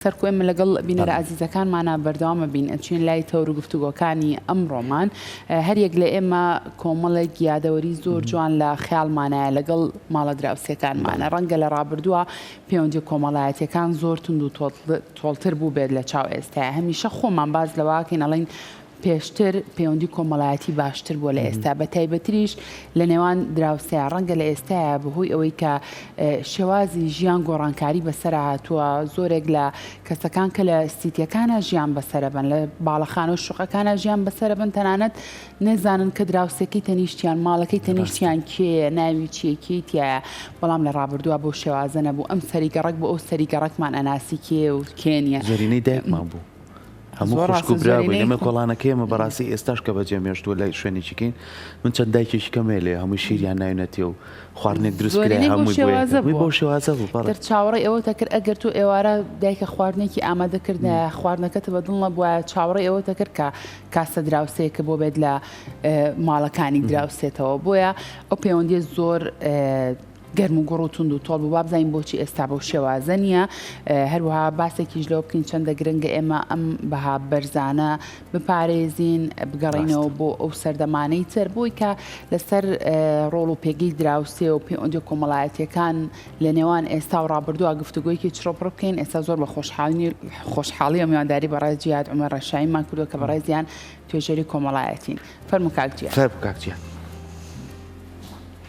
سەرکۆ ئێمە لەگەڵ بینەرە ئازیزەکانمانە بەردەوامە بین ئەچین لای تەور و گفتوگۆکانی ئەمڕۆمان هەریەک لە ئێمە کۆمەڵێک یادەوەری زۆر جوان لە خیاڵمانایە لەگەڵ ماڵە دراوسەکانمانە ڕەنگە لە ڕابردووە پەیوەندی کۆمەڵایەتەکان زۆر تونند و تۆڵتر بوو بێت لە چاو ئێستا هەمیشە خۆمان باز لەواکەین ئەڵین پێشتر پەیوەندی کۆمەڵایەتی باشتر بووە لە ئێستا بە تایبەتریش لە نێوان دراوسێ ڕەنگە لە ئێستاە بەهۆی ئەوەی کە شێوازی ژیان گۆڕانکاری بەسەر هاتووە زۆرێک لە کەسەکان کە لە سیتیەکانە ژیان بەسەرەبن لە باڵەخانە و شوقەکانە ژیان بەسەرەبن تەنانەت نەزانن کە دراوسێکی تەنیشتیان ماڵەکەی تەنیشتیان کێ ناوی چیەکیتیایە بەڵام لە ڕابردووە بۆ شێوازە نەبوو ئەم سەری گەڕک بۆ ئەو سەری گەڕکمان ئەناسی کێ و کێنە زۆرینەی دایکمان بوو هەموو خوشک و برا بووین ئێمە کۆڵانەکەی ئێمە بەڕاستی ئێستاش کە بەجێ مێشتووە لە شوێنێکی کەین من چەند دایکێکی کەمێ لێ هەموو شیریان ناوینەتێ و خواردنێک دروست کرێ هەمووی بۆ شێوازە بوو پڕتر چاوەڕێ ئەوە تەکرد ئەگەر تۆ ئێوارە دایکە خواردنێکی ئامادەکردە خواردنەکەت بە دڵ نەبووە چاوەڕێ ئەوە تەکرد کە کاسە دراوسەیەکە بۆ بێت لە ماڵەکانی دراوسێتەوە بۆیە ئەو پەیوەندی زۆر گەرم و گوڕ و توند و تۆڵ بوو وابزانین بۆچی ئێستا بەو شێوازە نییە هەروەها باسێکیش لەوە بکەین چەندە گرنگە ئێمە ئەم بەها بەرزانە بپارێزین بگەڕینەوە بۆ ئەو سەردەمانەی تر بۆی کە لەسەر ڕۆڵ و پێگەی دراوسێ و پێ ئۆندی کۆمەڵایەتەکان لە نێوان ئێستا و ڕابردووە گفتوگویەکی چڕۆپڕ بکەین ئێستا زۆر بە خۆشحاڵنی خۆشحاڵی و میوانداری بەڕێز جیاد ئەمە ڕەشایمان کردو کە بەڕێزیان توێژەری کۆمەڵایەتین فەرمکاکجیە خێر بکاکجیە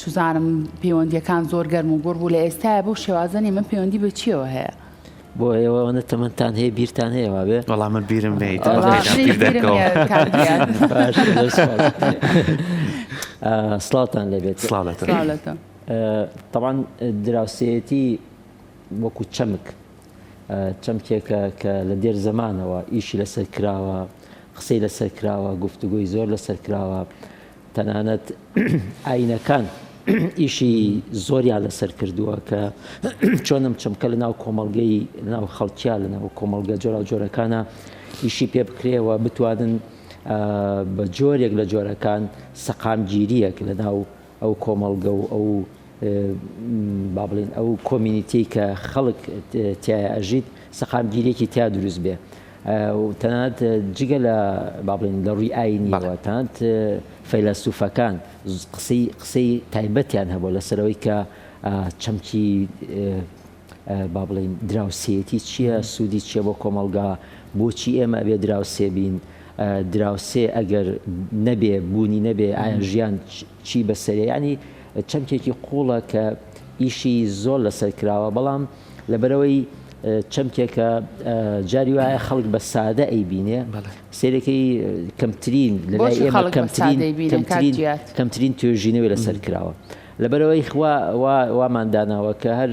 چزانم پەیوەندیەکان زۆر گەرم و گوڕ بوو لە ئێستاە بەو شێوازە نیمە پەیوەندی بە چیەوە هەیە بۆ ئێوە ئەوەنە تەمەتان هەیە بیرتان هەیە وابێ بەڵام من بیرم نیت سلااوان لەبێت تاوان دراوسەتی وەکو چەمک چەمکێکە کە لە دێر زمانەوە ئیشی لەسەر کراوە قسەی لەسەر کراوە گفتوگوی زۆر لەسەر کراوە تەنانەت ئاینەکان ئیشی زۆریان لەسەر کردووە کە چۆن ئەم چەمکە لە ناو کۆمەڵگەی ناو خەڵکیا لە ناو کۆمەڵگە جۆرا جۆرەکانە ئیشی پێ بکرێەوە بتوانن بە جۆرێک لە جۆرەکان سەقامگیریەک لە ناو ئەو کۆمەڵگە و ئەو با بڵێن ئەو کۆمینیتی کە خەڵک تیا ئەژیت سەقامگیریەکی تیا دروست بێ و تەنانەت جگە لە با بڵێین لە ڕووی ئاینیەوە تەنانەت فەیلەسوفەکان قسەی قسەی تایبەتیان هەبوو لەسەرەوەی کە چەمکی با بڵێین دراوسێتی چییە سوودی چییە بۆ کۆمەڵگا بۆچی ئێمە ئەبێ دراوسێ بین دراوسێ ئەگەر نەبێ بوونی نەبێ ئایا ژیان چی بەسەرە یانی چەمکێکی قوڵە کە ئیشی زۆر لەسەر کراوە بەڵام لەبەرەوەی چەمکێکە جاری وایە خەڵک بە سادە ئەی بینێ سێرەکەی کەمترین لەلای ئێمە کەمترین کەمترین کەمترین توێژینەوەی لەسەر کراوە لەبەرەوەی خوا وامان داناوە کە هەر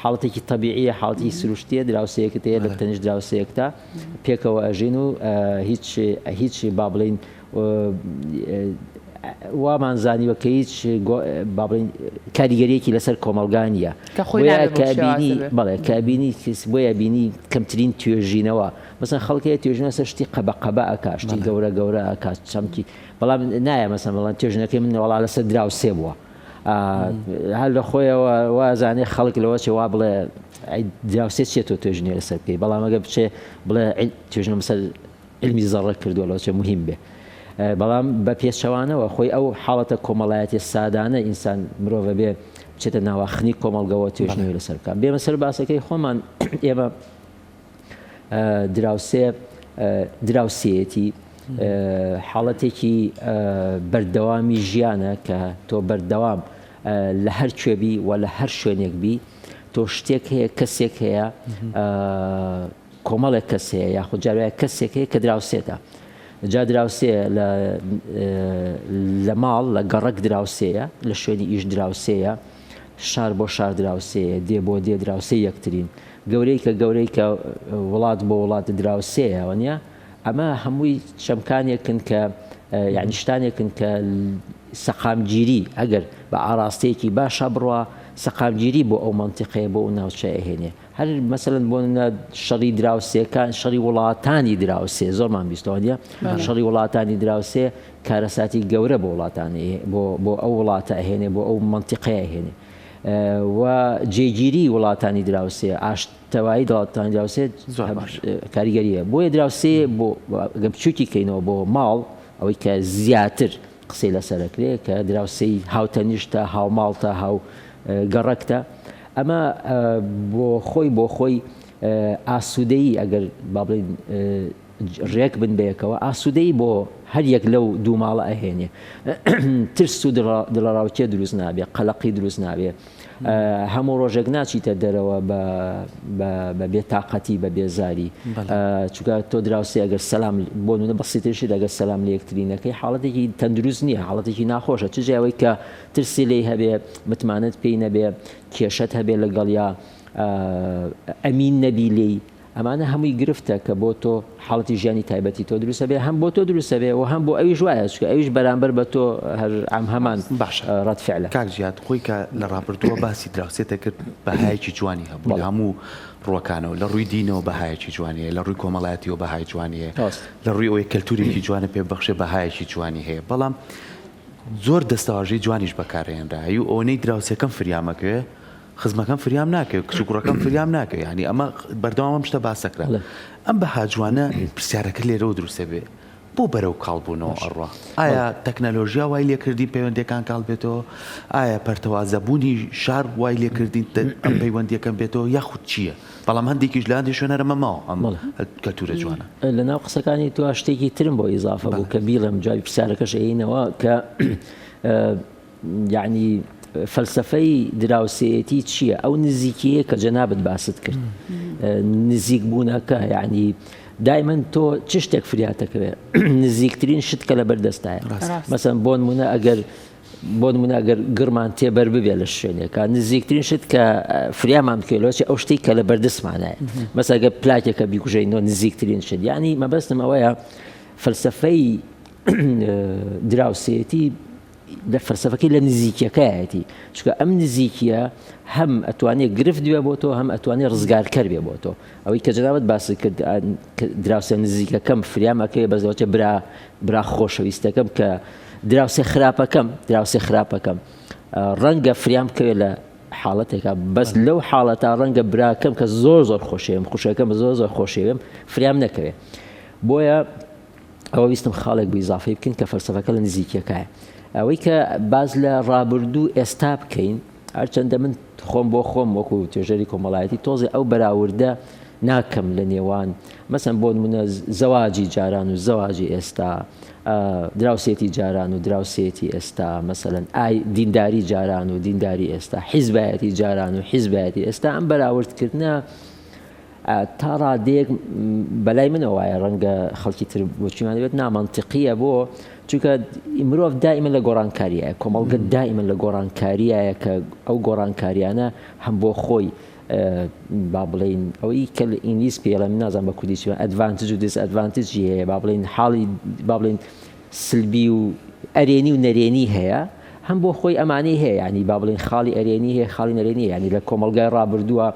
حاڵەتێکی طببیعە حاڵی سروشتیە دراوسەیەکت هەیە لە تەنیش دراوسەیەکتا پێکەوە ئەژین و هیچ هیچ با بڵین وامان زانیوە کە هیچ با بڵێین کاریگەریەکی لەسەر کۆمەڵگا نیە کە خۆی بۆیە نابێت بۆ کە شێوازی بینی بێت. بەڵێ کە بینی کەس بۆیە بینی کەمترین توێژینەوە مەسەن خەڵک هەیە توێژینەوە سەر شتی قەبە قەبە ئەکا شتی بەڵێ. گەورە گەورە ئەکا چەمکی بەڵام نایە مەسەن بڵێن توێژینەکەی من وەڵا لەسەر دراوسێ بووە ئا هەر لە خۆیەوە وا زانێ خەڵک لەوە چێ وا بڵێ ئەی دراوسێ چیە تۆ توێژینەوە لەسەر بکەی بەڵام ئەگەر بچێ بڵێ عیل توێژینەوەم سەر علمی زەڕە کردوە لۆچە موهیم بێ بەڵام بە پێچەوانەوە خۆی ئەو حاڵەتە کۆمەڵایەتی سادانە ئینسان مرۆڤە بێ بچێتە ناواخنی کۆمەڵگەوە توێژنەوەی لەسەر بکە بێمە سەر باسەکەی خۆمان ئێمە دراوسێ دراوسەتی حاڵەتێکی بەردەوامی ژیانە کە تۆ بەردەوام لە هەر کوێبی و لە هەر شوێنێک بی تۆ شتێک هەیە کەسێک هەیە کۆمەڵێک کەس هەیە یاخود جار وایە کەسێک هەیە کە دراوسێتە جا دراوسێ لە لە ماڵ لە گەڕک دراوسێیە لە شوێنی ئیش دراوسێیە شار بۆ شار دراوسێیە دێ بۆ دێ دراوسێ یەکترین گەورەی کە گەورەی کە وڵات بۆ وڵات دراوسێیە وەنیە ئەمە هەمووی چەمکانێکن کە یعنی شتانێکن کە سەقامگیری ئەگەر بە ئاراستەیەکی باشە بڕە سەقامگیری بۆ ئەو منتیقەیە بۆ ئەو ناوچەیە هێنێ هەر مەسەلەن بۆ نمونە شەڕی دراوسێکان شەڕی وڵاتانی دراوسێ زۆرمان بیستەوە نیە بەڵێ. شەڕی وڵاتانی دراوسێ کارەساتی گەورە بۆ وڵاتانی هەیە، بۆ بۆ ئەو وڵاتە ئەهێنێ بۆ ئەو مەنتیقەیە ئەهێنێ و جێگیری وڵاتانی دراوسێ ئاشتەوایی دەڵاتانی دراوسێت زۆر باش. کاریگەریە بۆیە دراوسێ بۆ گە بچوکی کەینەوە بۆ ماڵ ئەوەی کە زیاتر. قسەی لەسەر ئەکرێ کە دراوسێی هاوتەنیشتە، هاوماڵتە، هاو گەڕەکتە. ئەمە بۆ خۆی بۆ خۆی ئاسوودەیی ئەگەر با بڵێین ڕێک بن بەیەکەوە ئاسوودەیی بۆ هەر یەک لەو دوو ماڵە ئەهێنێ. ترس و دڵەڕاوکێ دروست نابێ، قەلەقی دروست نابێ. هەموو ڕۆژێک ناچیتە دەرەوە بە بێ تااقەتی بە بێزاری چکە تۆ دراوسی ئەگەر سەسلام بۆ نە بەسیترشی دەگەر سەسلام لە یەکترینەکەی حاڵەتێکی تەندروست نییە حاڵەتێکی ناخۆشە چ جیاوەی کە ترسی لی هەبێ متمانەت پێی نەبێ کێشت هەبێ لەگەڵ یا ئەمین نەبی لی ئەمانە هەمووی گرفتە کە بۆ تۆ حاڵەتی ژیانی تایبەتی تۆ دروست ئەبێ هەم بۆ تۆ دروست ئەبێ و هەم بۆ ئەویش وایە چونکە ئەویش بەرامبەر بە تۆ هەر ئەم هەمان باشە ڕەد فعلە. کاک جیاد خۆی کە لە ڕابردووە باسی دراوسێت دەکرد بەهایەکی جوانی هەبوو لە بەڵێ. هەموو ڕووەکانەوە لە ڕووی دینەوە بەهایەکی جوانی هەیە لە ڕووی کۆمەڵایەتیەوە بەهای جوانی هەیە ڕاست. لە ڕووی ئەوەی کەلتوورێکی جوانت پێ ببەخشێ بەهایەکی جوانی هەیە بەڵام زۆر دەستەواژەی جوانیش بەکارهێنرا ئەی ئەوەنەی دراوسێکەم فریامەکەوێ خزمەکەم فریام ناکەوێت کچ و کوڕەکەم فریام ناکەوێت ینی ئەمە بەردەوام ئەم شتە باسەکرا ئەم بە هاجوانە پرسیارەکە لێرەوە دروستە بێ بۆ بەرەو کاڵبوونەوە ئەڕوا ئایا تەکنەلۆژیا وای لێکردی پەیوەندەکان کاڵ بێتەوە ئایا پەرتەوازەبوونی شار وای لێکردین ئەم پەیوەندیەکەم بێتەوە یاخود چییە بەڵام هەندێکیش لاندی شوێنەرەمە ماوە ئەم کەلتورە جوانە لە ناو قسەکانی تو شتێکی ترم بۆ ئیزافە بوو کە بیڵم جای پرسیارەکەش ئەینەوە کە یەعنی فەلسەفەی دراوسێیەتی چییە؟ ئەو نزیکیەیە کە جەنابت باست کرد نزیک بوونەکە یعنی دایمەن تۆ چ شتێک فریاتەکەوێ نزیکترین شت کە لە بەردەستایە مەسەن بۆن منە ئەگەر بۆن مناگەر گڕمان تێبەر ببێ لە شوێنێکە نزیکترین شت کە فریامان بکەلۆچی ئەو شتێک کە لە بەردەستمانایە مەسەگە پلاکێکە بیکوژینەوە نزیکترین شت ینی مەبەستم ئەوەیە فەلسفەی دراوسێتی دە فەلسەفەکەی لە نزیکیەکایەتی چکە ئەم نزیکیە هەم ئەتوانێت گرفت بێ بۆ تۆ هەم ئەتوانێت ڕزگارکەر بێ بۆ تۆ ئەوەی کە جناوت باسی کرد دراوسێ نزیکەکەم فریامەکەی بەزەوەچە برا برا خۆشەویستەکەم کە دراوسێ خراپەکەم دراوسێ خراپەکەم ڕەنگە فریام بکەوێت لە حاڵەتێکە بەس لەو حاڵەتا ڕەنگە براکەم کە زۆر زۆر خۆشێم خوشەکەم زۆر زۆر خۆشێوێم فریام نەکەوێت بۆیە ئەوە ویستم خاڵێک بوو ئیزافەی بکەین کە فەلسەفەکە لە نزیکیەکایە ئەوەی کە باز لە ڕابردوو ئێستا بکەین هەرچەندە من خۆم بۆ خۆم وەکو توێژەری کۆمەڵایەتی تۆزێ ئەو بەراوردە ناکەم لە نێوان مەسم بۆ منە زەواجی جاران و زەواجی ئێستا دراوسێتی جاران و دراوسێتی ئێستا مەسەن ئای دینداری جاران و دینداری ئێستا حیزبایەتی جاران و حیزبایەتی ئێستا ئەم بەراوردکردە تا ڕادەیەک بەلای منە وایە ڕەنگە خەڵکی تر بۆچیمان بێت نامانتیقیە بۆ چونکە مرۆڤ دائیمە لە گۆڕانکاریە کۆمەڵگە دائیمە لە گۆڕانکاریە کە ئەو گۆڕانکاریانە هەم بۆ خۆی با بڵین ئەوەی کە لە ئینگلیس پێڵێ من نازان بە کوردی چوە ئەدڤانتج و دیس ئەدڤانتجی هەیە با بڵین حاڵی با بڵین سلبی و ئەرێنی و نەرێنی هەیە هەم بۆ خۆی ئەمانی هەیە ینی با بڵین خاڵی ئەرێنی هەیە خاڵی نەرێنی ینی لە کۆمەلگای ڕابردووە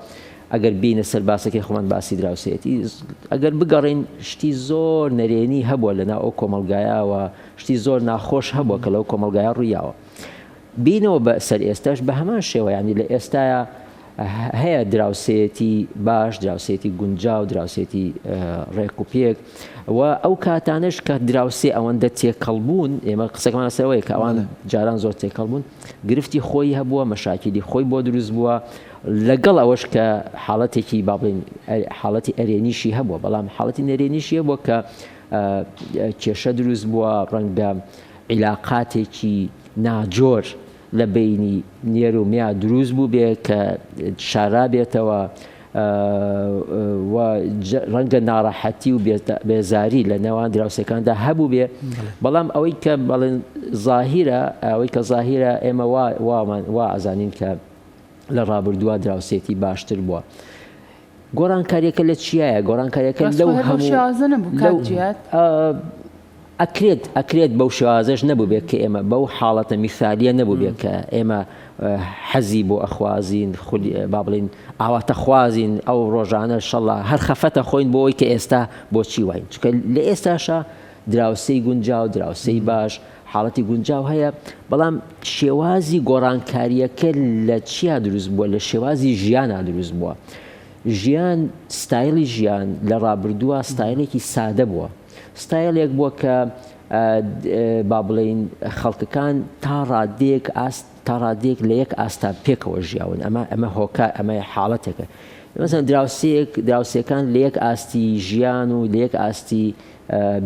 ئەگەر بێینە سەر باسەکەی خۆمان باسی دراوسێیەتی ئەگەر بگەڕێین شتی زۆر نەرێنی هەبووە لە ناو ئەو کۆمەڵگایەوە شتی زۆر ناخۆش هەبووە کە لەو کۆمەلگایە ڕوویاوە بینەوە بە سەر ئێستاش بە هەمان شێوەیانی لە ئێستاە هەیە دراوسێتی باش دراوسێتی گونجا و دراوسێتی ڕێک و پێک و ئەو کاتانش کە دراوسێ ئەوەندە تێکەڵ بوون ئێمە قسەکەمان سەرەوەی کە ئەوان جاران زۆر تێکەڵ بوون گرفتی خۆی هەبووە مەشاکیلی خۆی بۆ دروست بووە لەگەڵ ئەوەش کە حاڵەتێکی با بڵێین حاڵەتی ئەرێنیشی هەبووە، بەڵام حاڵەتی نەرێنیشی هەبووە کە کێشە دروست بووە، ڕەنگە عیلاقاتێکی ناجۆر لە بینی نێر و میا دروست بوو بێ کە شارا بێتەوە ڕەنگە ناڕەحەتی و بێزاری لە نێوان دراوسەکاندا هەبوو بێ بەڵام ئەوەی کە بەڵێن زاهیرە ئەوەی کە زاهیرە ئێمە وامان وا ئازانین کە لە ڕابردووا دراوسێتی باشتر بووە. گۆڕانکاریەکە لە چیایە گۆڕانکاریەکە لەو ئەکرێت ئەکرێت بەو شێوازش نەبووبێت کە ئێمە بەو حاڵەتە میثالیە نەبووبێت کە ئێمە حەزی بۆ ئەخوازین خودی با بڵین ئاواتە خوازین ئەو ڕۆژانە شەڵا هەر خەفەتە خۆین بۆ ئەوی کە ئێستا بۆچی واین چکە لە ئێستاشە دراوسەی گونجاو دراوسەی باش حاڵەتی گونجاو هەیە، بەڵام شێوازی گۆڕانکارییەکە لە چیا دروست بووە؟ لە شێوازی ژیانا دروست بووە. ژیان ستایلی ژیان لە ڕابردووە ستایلێکی سادە بووە. ستایلێک بووە کە با بڵێین خەڵکەکان تا ڕادێک ئاست تا ڕادێک لە یەک ئاستا پێکەوە ژیاون ئەمە ئەمە هۆکە ئەمە حاڵەتێکە. مەزان دراوسێک دراوسەکان لە یەک ئاستی ژیان و لە یەک ئاستی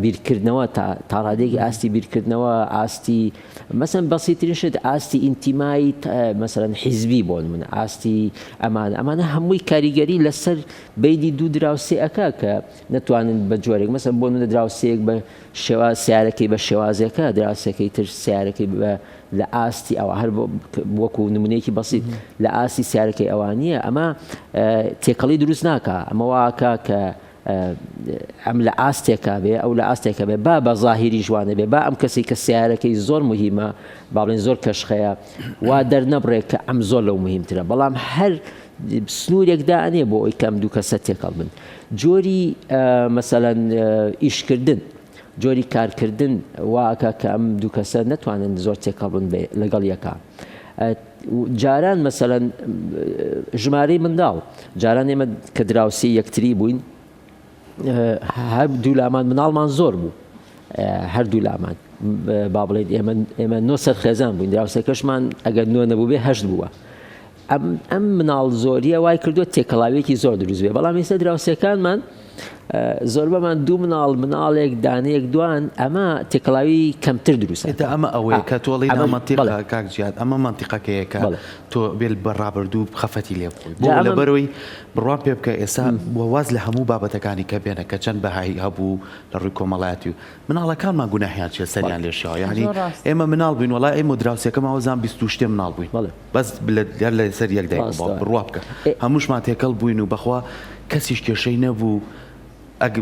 بیرکردنەوە تا تاڕادێکی ئاستی بیرکردنەوە ئاستی مەسن بەسیترین شت ئاستی ئینتیمای مەسەرەن حیزبی بۆ من ئاستی ئەمان ئەمانە هەمووی کاریگەری لەسەر بینی دوو دراوسێ ئەکا کە نەتوانن بە جۆرێک مەسە بۆ منە دراوسەیەک بە شێوا سیارەکەی بە شێوازەکە دراوسەکەی تر سیارەکەی بە لە ئاستی ئەوە هەر وەکو نمونەیەکی بەسیت لە ئاستی سیارەکەی ئەوانە ئەمە تێکەڵی دروست ناکە ئەمە واکە کە ئەم لە ئاستێکا بێ ئەو لە ئاستێکە بێ با بە ظاهریش وانە بێ با ئەم کەسی کە سیارەکەی زۆر مهمە با بڵێن زۆر کەشخەیە وا دەرنەبڕێت کە ئەم زۆر لەو مهمترە بەڵام هەر سنوورێکدا ئەنێ بۆ ئەوی کەم دوو کەسە تێکەڵ بن جۆری مەسەەن ئیشکردن جۆری کارکردن واکە کە ئەم دوو کەسە نتوانن زۆر تێکەڵ بن بێ لەگەڵ یەکە. جاران مەسەلەن ژمارەی منداڵ، جاران ئێمە کە دراوسێی یەکتری بووین، هەردوو لامان منداڵمان زۆر بوو، هەردوو لامان با بڵێین ئێمە ئێمە نۆ سەر خێزان بووین، دراوسێکەشمان ئەگەر نۆ نەبووبێ هەشت بووە. ئەم ئەم منداڵ زۆرییە وای کردووە تێکەڵاوییەکی زۆر دروست بێ، بەڵام ئێستا دراوسێکانمان، زۆربەمان دوو مناڵ، مناڵێک، دانەیەک، دوان، ئەمە تێکەڵاوی کەمتر دروست ئەکات. ئێتا ئەمە ئەوەیە کە تۆ ئەڵێی نامەنتیقە کاک جیاد، ئەمە مەنتیقەکەیە کە تۆ بێل بە ڕابردوو خەفەتی لێ بکەیت، بۆ لەبەرەوەی بڕوام پێ بکە ئێستا بۆ واز لە هەموو بابەتەکانی کە بێنە کە چەند بەهایی هەبوو لە ڕووی کۆمەڵایەتی و مناڵەکانمان گوناحیان چیە سەریان لێ شێواوە، یەعنی ئێمە مناڵ بووین وەڵا ئێمە دراوسێکەمان وەزان بیست و شتێ مناڵ بووین. بەس بلت گەر لە سەر یەک دایک و باوک بن ڕوا بکە هەمووشمان تێکەڵ بووین و بەخوا کەسیش کێشەی نەبوو ئەگ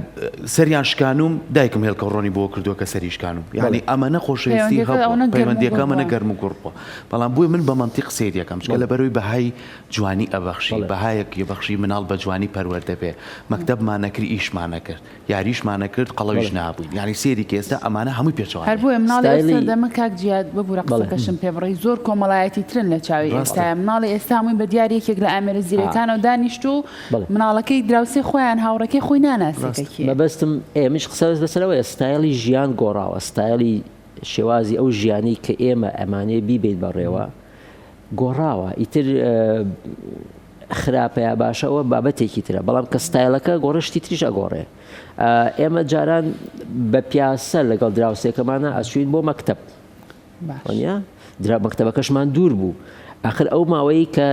سەریان شکانوم دایکم هێڵکە ڕۆنی بۆ کردووە کە سەری شکانوم یعنی ئەمە نەخۆشەویستی هەڵ پەیوەندیەکە منە گەرم و گوڕپە بەڵام بووی من بە منتی قسەی دەکەم چکە لە بەرەوەی بەهای جوانی ئەبەخشی بەهایەک یەبەخشی مناڵ بە جوانی پەروەەردەبێ مەکتەبمانەکرد ئیشمانەکرد یاریشمان ئەکرد قەڵەویش نابووین یانی سێریکە ئێستا ئەمانە هەمووی پێچەوانە. هەر بۆیە مناڵی ئێستا ستایلی. دەمە کاک جیاد ببورە بەڵێ. قسەکەشم پێ بڕی زۆر کۆمەڵایەتی ترن لە چاوی ڕاستە. ئێستایە مناڵی ئێستا هەمووی بە دیار یەکێک لە ئامێرە زیرەکانەوە دانیشتوو بەڵێ. مناڵەکەی دراوسێ خۆیان هاوڕێکەی خۆی ناناسێ کە ڕاستە. کێیە. مەبەستم ئێمەش قسە لەسەر ئەوەیە ستایلی ژیان گۆڕاوە ستایلی شێوازی ئەو ژیانەی کە ئێمە ئەمانەیە بیبەین بەڕێوە گۆڕاوە ئیتر خراپە یا باشە ئەوە بابەتێکی ترە بەڵام کە ستایلەکە گۆڕێ شتی تریش ئەگۆڕێ ئێمە جاران بە پیاسە لەگەڵ دراوسێکەمانە ئەچوین بۆ مەکتب وانە درا مەکتەبەکەشمان دوور بوو ئەخر ئەو ماوەی کە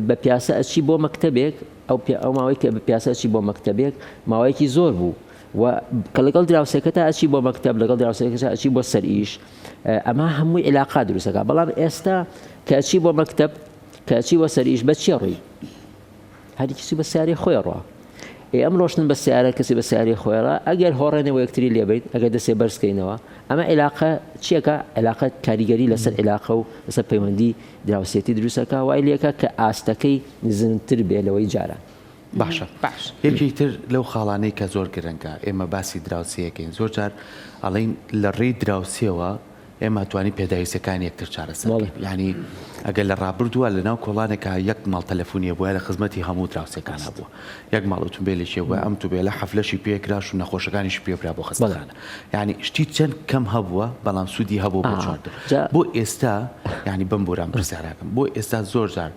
بە پیاسە ئەچی بۆ مەکتەبێک ئەو ئەو ماوەی کە بە پیاسەچی بۆ مەکتەبێک ماوەیەکی زۆر بوو و کە لەگەڵ دراوسێکەتا ئەچی بۆ مەکتب لەگەڵ دراوسێکەکە ئەچی بۆ سەر ئیش ئەمە هەمووی علاقا دروستەکە بەڵام ئێستا کەچی بۆ مەکتب کەچی بۆ سەر ئیش بە چێ ڕووی هەری کسی بە سیارەی خۆی ڕۆ ئێ ئەم ڕۆشتن بە سیارە کەسی بە سیاری خۆێڕ ئەگەر هۆڕێنەوە یەکتری لێبیت ئەگەر دەسێ بەرزکەینەوە ئەمە عێلاقە چیەکە عێلاقە کاریگەری لەسەر عێلاقە و لەسەر پەیوەندی دراوسێتی دروستەکە وای لەکە کە ئاستەکەی نزمتر بێ لەوەی جاران باشە باش. یەکێکی تر لەو خاڵانەی کە زۆر گرنگە ئێمە باسی دراوسێ ئەکەین زۆر جار ئەڵێن لە ڕێی دراوسێوە ئێمە توانی پێداویستەکانی یەکتر چارەسەر بەڵێ. بکەین یانی ئەگەر لە ڕابردووە لەناو کۆڵانێکا یەک ماڵ تەلەفونیە بووە لە خزمەتی هەموو دراوسێکان ڕاست. هەبووە یەک ماڵ ئوتومبێلێکی بووە ئەم توبێلە حەفلەشی پێ کراش و نەخۆشەکانیشی پێ برا بۆ بەڵێ. خەستەخانە یانی شتی چەند کەم هەبووە بەڵام سوودی هەبووە بۆ ئا چوار دە جا. بۆ ئێستا یانی بمبوورە ئەم پرسیارە ئەکەم بۆ ئێستا زۆر جار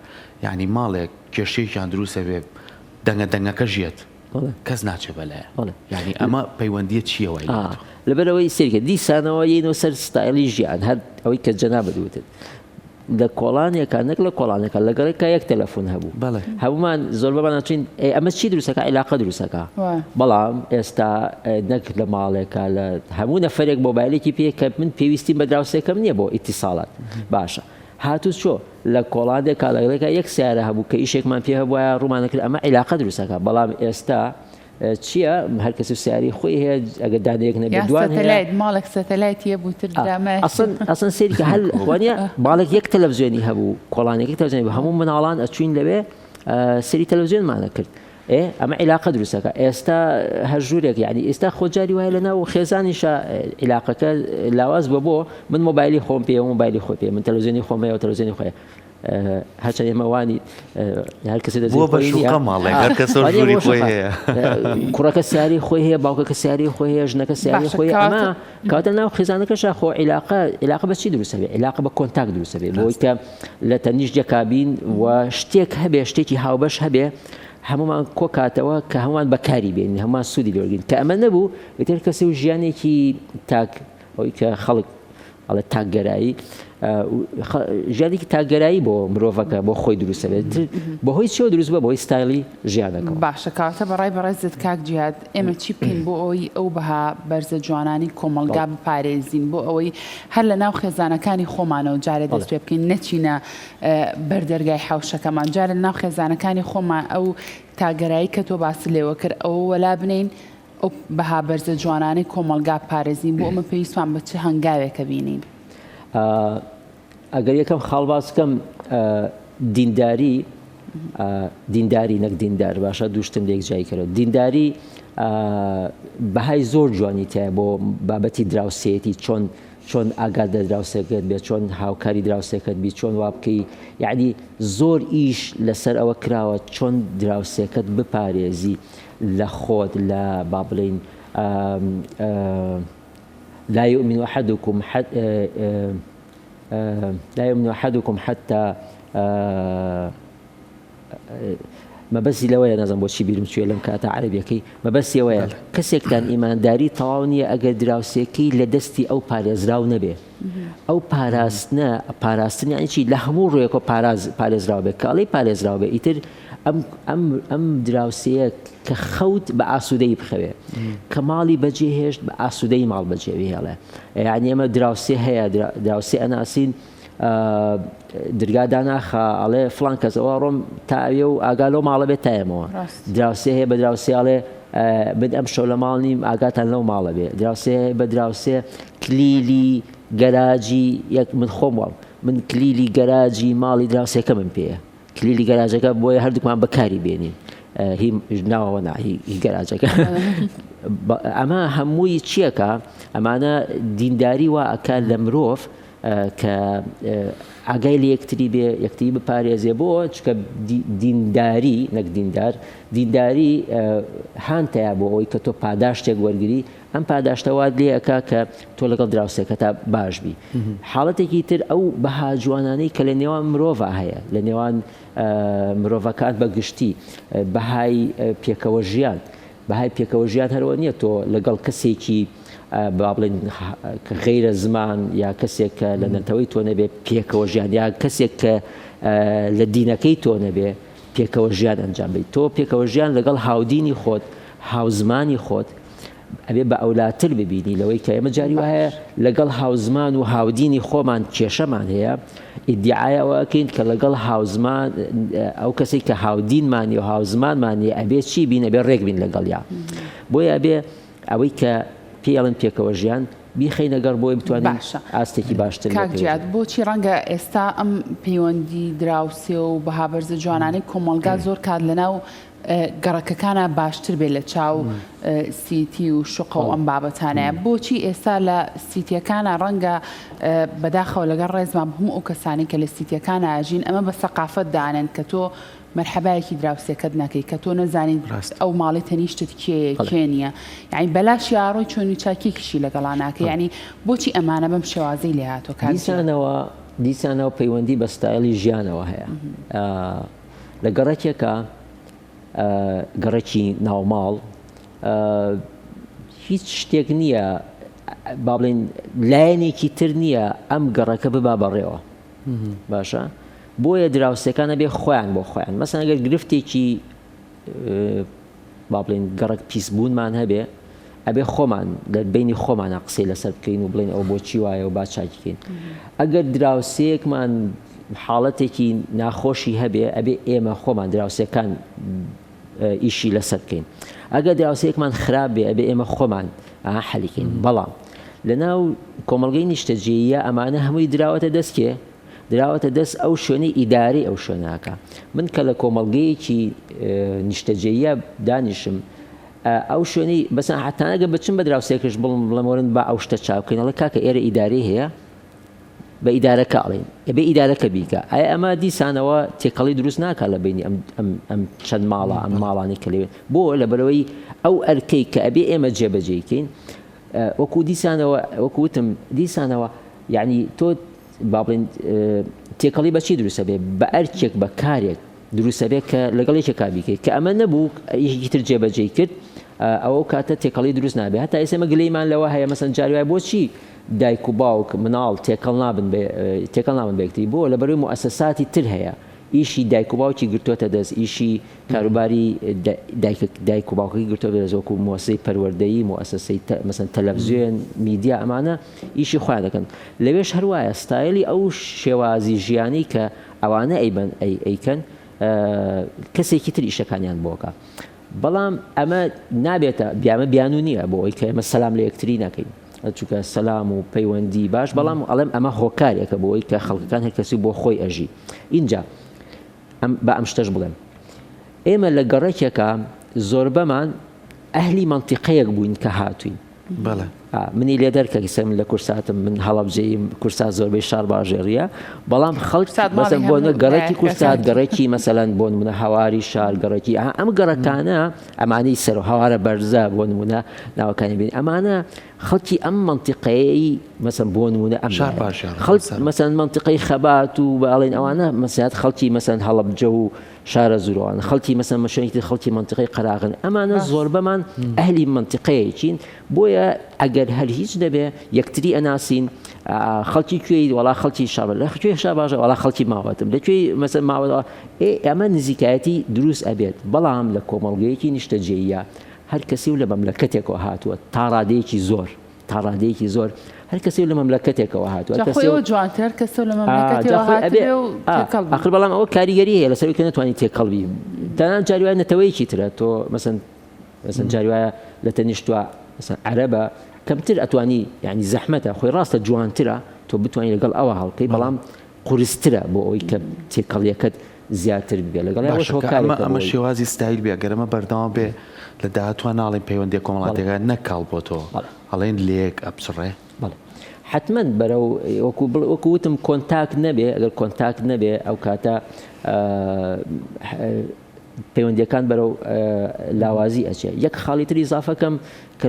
یانی ماڵێک کێشەیەکیان دروست ئەبێ دەنگە دەنگەکەش یەت کەس ناچێ بەلایان یانی ئەمە پەیوەندیە چیە وای لێ ئەتوان. لەبەرئەوەی سەیرکە دیسانەوە یەینەوە سەر ستایلی ژیان هەر ئەوەی کە جەنابت وتت لە کۆڵانێکا نەک لە کۆڵانێکا لە گەڕێکا یەک تەلەفون هەبوو بەڵێ هەموومان زۆربەمان ئەچین ئەی ئەمە چی دروستەکا عیلاقە دروستەکا وە. بەڵام ئێستا نەک لە ماڵێکا لە هەموو نەفەرێک مۆبایلێکی پێیە کە من پێویستیم بە دراوسێکەم نییە بۆ ئیتیساڵات باشە هاتوچۆ، لە کۆڵادێ کالەگرێکا یەک سەیارە هەبوو کە ئیشێکمان پێ هەبوایە ڕوومان دەکرد ئەمە عیلاقە دروست ئەکا بەڵام ئێستا چیە هەر کەس و سەیارەی خۆی هەیە ئەگەر دانەیەک نەبێت دوان هەیە سەتەلایت ماڵێک سەتەلایت یە بوو تر درامای ئەسڵەن ئەسڵەن سەیری کە هەل وانە ماڵێک یەک تەلەڤزیۆنی هەبوو کۆڵانێکی تەلەڤزیۆنی بە هەموو مناڵان ئەچوین لەوێ سەیری تەلەڤزیۆنمانە کرد ئێ ئەمە عیلاقە دروستەکە ئێستا هەر ژوورێک یعنی ئێستا خۆ جاری وایە لە ناو خێزانیشە عیلاقەکە لاواز بۆ بۆ من مۆبایلی خۆم پێ مۆبایلی خۆ پێ من تەلوزیێنی خۆمەیە و تەلوزیێنی خۆێ هەچە ئێمەوانی هەر کەسی دەزۆ کوڕەکە سیاری خۆی هەیە باوکەکە سیاری خۆی هەیە ژنەکە سیاری خۆی ئەمە کاتە ناو خێزانەکەش خۆ عیلاقە عیلاقە بەچی دروستەبێ عیلاقە بە کۆنتاک دروستەبێ بۆی کە لە تەنیشت یەکابین و شتێک هەبێ شتێکی هاوبەش هەبێ هەموومان کۆکاتەوە کە هەموومان بەکاری بێنین هەموومان سوودی لێوەرگین کە ئەمە نەبوو ئیتر کەسی و ژیانێکی تاک ئەوی کە خەڵک ئەڵێ تاکگەرایی ژیانێکی تاگەرایی بۆ مرۆڤەکە بۆ خۆی دروستە بێت بەهۆی چۆ دروست بە بۆی ستایلی ژیانەکە باشە کاتە بەڕای بەڕێزت کاک جیاد ئێمە چی بکەین بۆ ئەوی ئەو بەها بەرزە جوانانی کۆمەلگا بپارێزین بۆ ئەوەی هەر لە ناو خێزانەکانی خۆمانەوە جارێ دەست پێ بکەین نەچینە بەر دەرگای حەوشەکەمان جا لە ناو خێزانەکانی خۆمان ئەو تاگەرایی کە تۆ باسی لێوە کرد ئەوە وەلا بنین ئەو بەها بەرزە جوانانەی کۆمەلگا پارێزین بۆ ئەمە پێویستمان بە چ هەنگاوێکە بینین ئەگەر یەکەم خاڵباسکەم دینداری دینداری نەک دیندار باشە دوشتن لێک جای کەەوە دینداری بەهای زۆر جوانی تای بۆ بابەتی دراوسێتی چۆن چۆن ئاگات لە دراوسێکەت بێت چۆن هاوکاری دراوسێکەت بیت چۆن وابکەی یعنی زۆر ئیش لەسەر ئەوە کراوە چۆن دراوسێکەت بپارێزی لە خۆت لە با بڵین لا يؤمن أحدكم حد لا يؤمن أحدكم حتى مەبەستی لەوەیە نازانم بۆچی بیرم چوویە لەم کاتە عەرەبیەکەی مەبەستی ئەوەیە بەڵێ. کەسێکتان ئیمانداری تەواو نییە ئەگەر دراوسێکەی لە دەستی ئەو پارێزراو نەبێ ئەو پاراستنە پاراستن یانی چی لە هەموو ڕوویەکەوە پاراز پارێزراو بێت کە ئەڵێی پارێزراو بێ ئیتر ئەم ئەم ئەم دراوسێیە کە خەوت بە ئاسوودەیی بخەوێ کە ماڵی بەجێ هێشت بە ئاسوودەیی ماڵ بەجێ بهێڵێ یانی ئێمە دراوسێ هەیە درا دراوسێ ئەناسین درگا داناخا ئەڵێ فلان کەس ئەوە ڕۆم تا ئەوێ و ئاگا لەو ماڵە بێت تایەمەوە دراوسێ هەیە بە دراوسێ ئەڵێ بد ئەم شەو لە ماڵ نیم ئاگاتان لەو ماڵە بێ دراوسێ بە دراوسێ کلیلی گەراجی یەک من خۆم وڵ من کلیلی گەراجی ماڵی دراوسێکە من پێەیە کلیلی گەراجەکە بۆیە هەردووکمان بەکاری بێنین هی ناوەوە ناهی گەراجەکە ئەمە هەمووی چیەکە ئەمانە دینداری وا ئەکە لە مرۆڤ کە ئاگای لە یەکتری بێ یەکتری بپارێزێ بۆ چکە دینداری نەک دیندار دینداری هانتەیە بۆ ئەوی کە تۆ پاداشتێک وەرگری ئەم پاداشتەوات لێەکە کە تۆ لەگەڵ دراوسێکە تا باش بی حاڵەتێکی تر ئەو بەها جوانانەی کە لە نێوان مرۆڤ هەیە لە نێوان مرۆڤەکان بە گشتی بەهای پێکەوە ژیان. بەهای پێکەوە ژیان هەرەوە نیە تۆ لەگەڵ کەسێکی با بڵێن غەیرە زمان یا کەسێک کە لە نەتەوەی تۆ نەبێ پێکەوە ژیان یا کەسێک کە لە دینەکەی تۆ نەبێ پێکەوە ژیان ئەنجام بیت تۆ پێکەوە ژیان لەگەڵ هاودینی خۆت هاوزمانی خۆت ئەبێ بە ئەولاتر ببینی لەوەی کە ئێمە جاری وایە لەگەڵ هاوزمان و هاودینی خۆمان کێشەمان هەیە ئیدیعای ئەوە ئەکەین کە لەگەڵ هاوزمان ئەو کەسێک کە هاودینمانی و هاوزمانمانی ئەبێ چی بین ئەبێ ڕێک بین لەگەڵیا بۆیە ئەبێ ئەوەی کە پێڵن پێکەوە ژیان بیخینە گەڕ بۆی بتوانین ئاستێکی باشتر کاکجیات بۆچی ڕەنگە ئێستا ئەم پەیوەندی دراوسێ و بەهابەرزە جوانانەی کۆمەلگا زۆر کات لەناو گەڕەکەکانا باشتر بێت لە چاو سیتی و شقە و ئەم بابەتانەیە بۆچی ئێستا لە سیتیەکانە ڕەنگە بەداخەوە لەگەڵ ڕێزمان هەموو ئەو کەسانی کە لە سیتیەکان ئاژین ئەمە بە سەقافەت دانێن کە تۆ مەرحەبایەکی دراوسێکەت نەکەی کە تۆ نەزانین ئەو ماڵی تەنیشتت کێ کێ نییە یعنی بەلاش یاڕۆی چۆنی چاکێکیشی لەگەڵا ناکە ینی بۆچی ئەمانە بەم شێوازەی لێهاتۆ کارزانەوە دیسانەوە پەیوەندی بە ستایلی ژیانەوە هەیە. لە گەڕەکێکە گەڕەکی ناوماڵ هیچ شتێک نییە با بڵێن لایەنێکی تر نییە ئەم گەڕەکە ببا بەڕێوە باشە بۆیە دراوسەکانە بێ خۆیان بۆ خۆیان مەسەنگەر گرفتێکی با بڵێین گەڕەک پیس بوونمان هەبێ ئەبێ خۆمان دەربینی خۆمانە قسەی لەسەر بکەین و بڵێن ئەو بۆچی وایە و با چاکیکەین ئەگەر دراوسەیەکمان حاڵەتێکی ناخۆشی هەبێ ئەبێ ئێمە خۆمان دراوسەکان ئیشی لەسەر بکەین ئەگەر دراوسەیەکمان خراپ بێ ئەبێ ئێمە خۆمان حەلیکەین بەڵام لە ناو کۆمەلگەی نیشتەجێیە ئەمانە هەمووی دراوەتە دەستکێ دراوەتە دەست ئەو شوێنەی ئیدارەی ئەو شوێناکە من کە لە کۆمەڵگەیەکی نیشتەجێە دانیشم ئەو شوێنی بەسە حتانەگە بچم بە دراوسێکش بڵم بڵمەوەن با ئەو شتە چاوکەینەڵە کاکە ئێرە ئیداری هەیە بە ئیدارەکە ئەڵین ئەبێ ئیدارەکە بیکە ئایا ئەمە دیسانەوە تێکەڵی دروست ناکە لە بینی ئەم چەند ماڵە ئەم ماڵانی کە لەوێت بۆ لە بەرەوەی ئەو ئەرکەی کە ئەبێ ئێمە جێبەجێکەین وەکو دیسانەوە وەکوتم دیسانەوە یعنی تۆ با بڵێن تێکەڵی بە چی دروستە بێ بە ئەرکێک بە کارێک دروستە بێت کە لەگەڵ یەکێکا بیکەیت کە ئەمە نەبوو یەکی تر جێبەجێی کرد ئەوە کاتە تێکەڵی دروست نابێت هەتا ئێسمە گلەیمان لەوە هەیە مەسەن جاروای بۆچی دایک و باوک مناڵ تێکەڵ نابن تێکەڵ ناون بێکتی بۆ لە بەروی موسساتی تر هەیە ئیشی دایک و باوکی گرتوۆتە دەست ئیشی کاروباری دایک و باوکی گرتۆ دەزۆک و مۆسی پەروەردەی موسسی مەسن تەلەڤزیۆن میدیا ئەمانە ئیشی خۆیان دەکەن لەوێش هەر وایە ستایلی ئەو شێوازی ژیانی کە ئەوانە ئەیبەن ئەی ئەیکەن کەسێکی تر ئیشەکانیان بۆکە بەڵام ئەمە نابێتە بیامە بیانو نییە بۆ ئەوی کە ئمە سەسلام لە یەکتری ناکەین چونکە سەسلام و پەیوەندی باش بەڵام ئەڵێم ئەمە هۆکارێکە بۆ ئەوی کە خەڵکەکان هەر کەسی بۆ خۆی ئەژی اینجا بە ئەم شتەش بڵێم ئێمە لە گەڕێکێکە زۆربەمان ئەهلی منطقەیەک بووین کە هاتوین بەڵێ. منی لێ دەرکە کە من لە کورساتم من هەڵەبجەییم کورسات زۆربەی شار باژێڕیە بەڵام خەڵک کورسات ماڵی مەسەن بۆ هەموو نە گەڕەکی لایەک کورسات کەسە. گەڕەکی مەسەلەن بۆ نمونە هەواری شار گەڕەکی ئەها ئەم گەڕەکانە ئەمانەی سەر و هەوارە بەرزە بۆ نمونە ناوەکانی بینی ئەمانە خەڵکی ئەم مەنتیقەیەیی مەسەن بۆ نمونە ئەم شار لایەنە. باژێڕ خەڵک مەسەن. مەسەن مەنتیقەی خەبات و باڵێن ئەوانە مەسەن خەڵکی مەسەن هەڵەبجە و شارەزووران، خەڵکی مەسەن مەشەنی تر خەڵکی مەنتیقەی قەراغن، ئەمانە زۆربەمان ئەهلی مەنتیقەیەکین، بۆیە ئەگەر هەر هیچ نەبێ یەکتری ئەناسین، خەڵکی کوێی؟ وەڵا خەڵکی شاباش. لە کوێی شاباژە؟ وەڵا خەڵکی ماوەتم. لە کوێی مەسەن ماوەت؟ ئێ ئەمە نزیکایەتی دروست ئەبێت، بەڵام لە کۆمەڵگەیەکی نیشتەجێییە هەر کەسی و لە مەملەکەتێکەوە هاتووە تا ڕادەیەکی زۆر تا ڕادەیەکی زۆر هەر کەسێ لە مەملەکەتێکەوە هاتووە جا خۆی ئەوە جوانتر هەر کەسە لە مەملەکەتێوە ئەبێ هاتبێ و تێکەڵ بی. ئاخر بەڵام ئەوە کاریگەری هەیە لەسەر کە نەتوانانی تێکەڵ بی تەنان جاری وایە نەتەوەیەکی ترە تۆ مەسەن مەسەن جاری وایە لە تەنیشتوە مەسەن عەرەبە کەمتر ئەتوانی یعنی زەحمەتە خۆی ڕاستە جوانترە تۆ بتوانانی لەگەڵ ئەوە هەڵکەی بەڵام قورسترە بۆ ئەوەی کە تێکەڵیەکەت زیاتر ببێت لەگەڵ ئەوەش هۆکارێکە بۆی. باشە کە ئەمە شێوازی ستایل بێ ئەگەر ئەمە بەردەوام بێ لە داهاتووە ناڵێین پەیوەندیە کۆمەڵاتیەکە نەک کاڵ بۆ تۆ ئەڵێن لێک ئەپچڕێ؟ بەڵێ حەتمەن بەرەو وەکو بڵێ وەکو وتم کۆنتاک نەبێ ئەگەر کۆنتاک نەبێ ئەو کاتە پەیوەندیەکان بەرەو لاوازی ئەچێ یەک خاڵی تری زافەکەم کە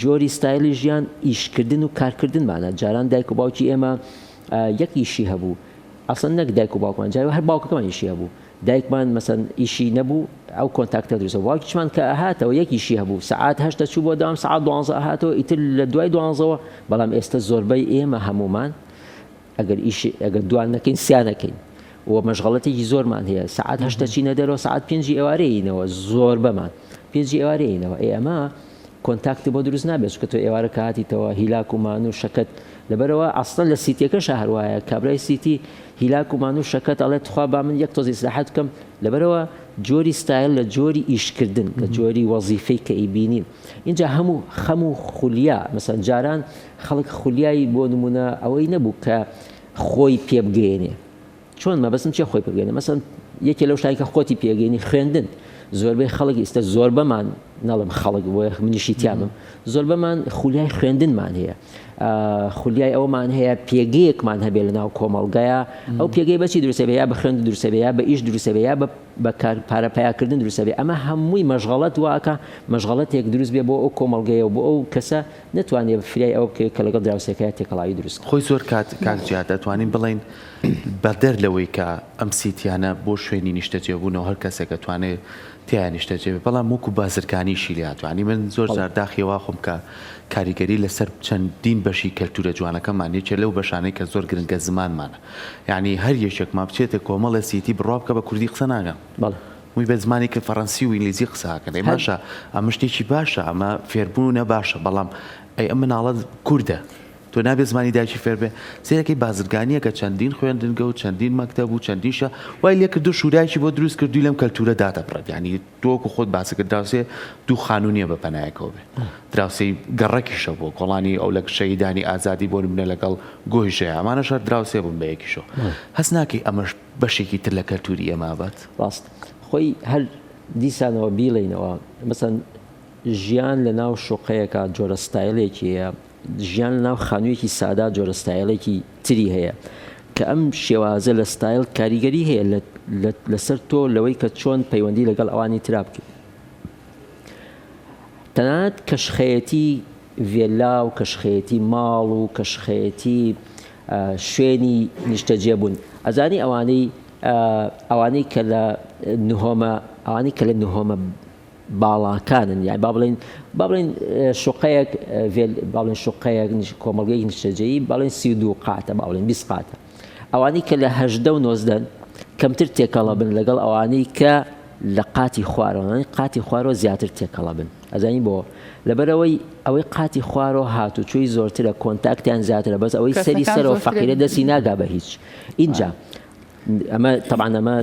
جۆری ستایلی ژیان ئیشکردن و کارکردنمانە جاران دایک و باوکی ئێمە یەک ئیشی هەبوو ئەسڵەن نەک دایک و باوکمان جا هەر باوکەکەمان ئیشی هەبوو دایکمان مەسەن ئیشی نەبوو ئەو کۆنتاکتە دروست بوو باوکیشمان کە ئەهاتەوە یەک ئیشی هەبوو سەعات هەشت دەچوو بۆ دەوام سەعات دوانزە ئەهاتەوە ئیتر لە دوای دوانزەوە بەڵام ئێستە زۆربەی ئێمە هەموومان ئەگەر ئیش ئەگەر دوان نەکەین سیانەکەین و مەشغڵەتێکی زۆرمان هەیە سعات هەشتە چینە دەرەوە سعات پێنجی ئێوارەیەینەوە زۆربەمان پێنجی ئێوارەیەینەوە ئێ ئەمە کۆنتاکتی بۆ دروست نابێت چونکە تۆ ئێوارە کە هاتیتەوە هیلاک و مانو و شەکەت لەبەرەوە ئەسڵەن لە سیتیەکەشە هەروایە کابرای سیتی هیلاک و مانو و شەکەت ئەڵێ تخوا با من یەک تۆز ئیسلاحات بکەم لەبەرەوە جۆری ستایل لە جۆری ئیشکردن لە جۆری وەزیفەی کە ئیبینین اینجا هەموو خەم و خولیا مەسەن جاران خەڵک خولیای بۆ نمونە ئەوەی نەبوو کە خۆی پێبگەێنێ چۆن مەبەستم چیە خۆی پێبگەینێ مەسەن یەکێ لەو شتانی کە خۆتی پێگەینی خوێندن زۆربەی خەڵک ئیستە زۆربەمان نەڵم خەڵک بۆ یەخ منیشی تیامم زۆربەمان خولیای خوێندنمان هەیە خولیای ئەومان هەیە پێگەیەکمان هەبێ لە ناو کۆمەڵگەیە ئەو پێگەی بەچی دروسەبێ یا بە خوێند دروسەبێ یا بە ئیش دروسەبێ یا بە کار پارە پیاکردن دروسەبێ ئەمە هەمووی مەشغڵەت واکە مەشغڵەتێک دروست بێ بۆ ئەو کۆمەڵگەیە و بۆ ئەو کەسە نەتوانێ فرای ئەوە بکەوێت کە لەگەڵ دراوسێکەیا تێکەڵاوی دروست کات. خۆی زۆر کات کاک جیاد ئەتوانین بڵێین بەدەر لەوەی کە ئەم سیتیانە بۆ شوێنی نیشتەجێبوونەوە هەر کەسێک ئەتوانێ تێیا نیشتەجێ بێ بەڵام وەکو بازرگانیشی لێ ئەتوانی من زۆر بەڵێ. جار داخی ئەوە ئەخۆم کە کاریگەری لەسەر چەندین بەشی کەلتوورە جوانەکەمان یەکێ لەو بەشانەی کە زۆر گرنگە زمانمانە یانی هەر یەکێکمان بچێتێ کۆمەڵێ سیتی بڕوا بکە بە کوردی قسە ناکەن بەڵێ. وی بە زمانی کە فەڕەنسی و ئینگلیزی قسە ئەکەن ئەی هەر باشە ئەمە شتێکی باشە ئەمە فێربوونە باشە بەڵام ئەی ئەم مناڵە کوردە تۆ نابێ زمانی دایکی فێر بێ سیرەکەی بازرگانیە کە چەندین خوێندنگە و چەندین مەکتەب و چەندیشە وای لێ کردو شوراکی بۆ دروست کردووی لەم کەلتورە دادەبڕێت یانی تۆوەکو خۆت باسی کرد دراوسێ دوو خانوو نییە بە پەنایەکەوە بێ دراوسێی گەڕەکیشە بۆ کۆڵانی ئەو لە شەهیدانی ئازادی بۆ نمونە لەگەڵ گۆیژەیە ئەمانەش هەر دراوسێ بوون بە یەکیشەوە هەست ناکەی ئەمەش بەشێکی تر لە کەلتوری ئێمە ئابات. ڕاست خۆی هەر دیسانەوە بیڵێینەوە مەسەن ژیان لە ناو شوقەیەکا جۆرە ستایلێکی هەیە ژیان لە ناو خانویەکی سادا جۆرە ستایلێکی تری هەیە کە ئەم شێوازە لە ستایل کاریگەری هەیە لە لە لەسەر تۆ لەوەی کە چۆن پەیوەندی لەگەڵ ئەوانی ترا بکەی تەنانەت کەشخەیەتی ڤێلا و کەشخەیەتی ماڵ و کەشخەیەتی شوێنی نیشتەجێ بوون ئەزانی ئەوانەی ئەوانەی کە لە نهۆمە ئەوانەی کە لە نهۆمە باڵاکانن یان با بڵێن با بڵێن شوقەیەک با بڵێن شوقەیەک کۆمەڵگەی نیشتەجێی با بڵێن سی و دوو قاتە با بڵێن بیست قاتە ئەوانەی کە لە هەژدە و نۆزدەن کەمتر تێکەڵە بن لەگەڵ ئەوانەی کە لە قاتی خوارەوە قاتی خوارەوە زیاتر تێکەڵە بن ئەزانی بۆ؟ لەبەرئەوەی ئەوەی قاتی خوارۆ هاتوچۆی زۆرترە کۆنتاکتیان زیاترە بەس ئەوەی سەری کەسەکان سەرەوە زۆرترێک فەقیرە دەستی بینی ناگا بە هیچ ئینجا ئەی ئەمە تەبعەن ئەمە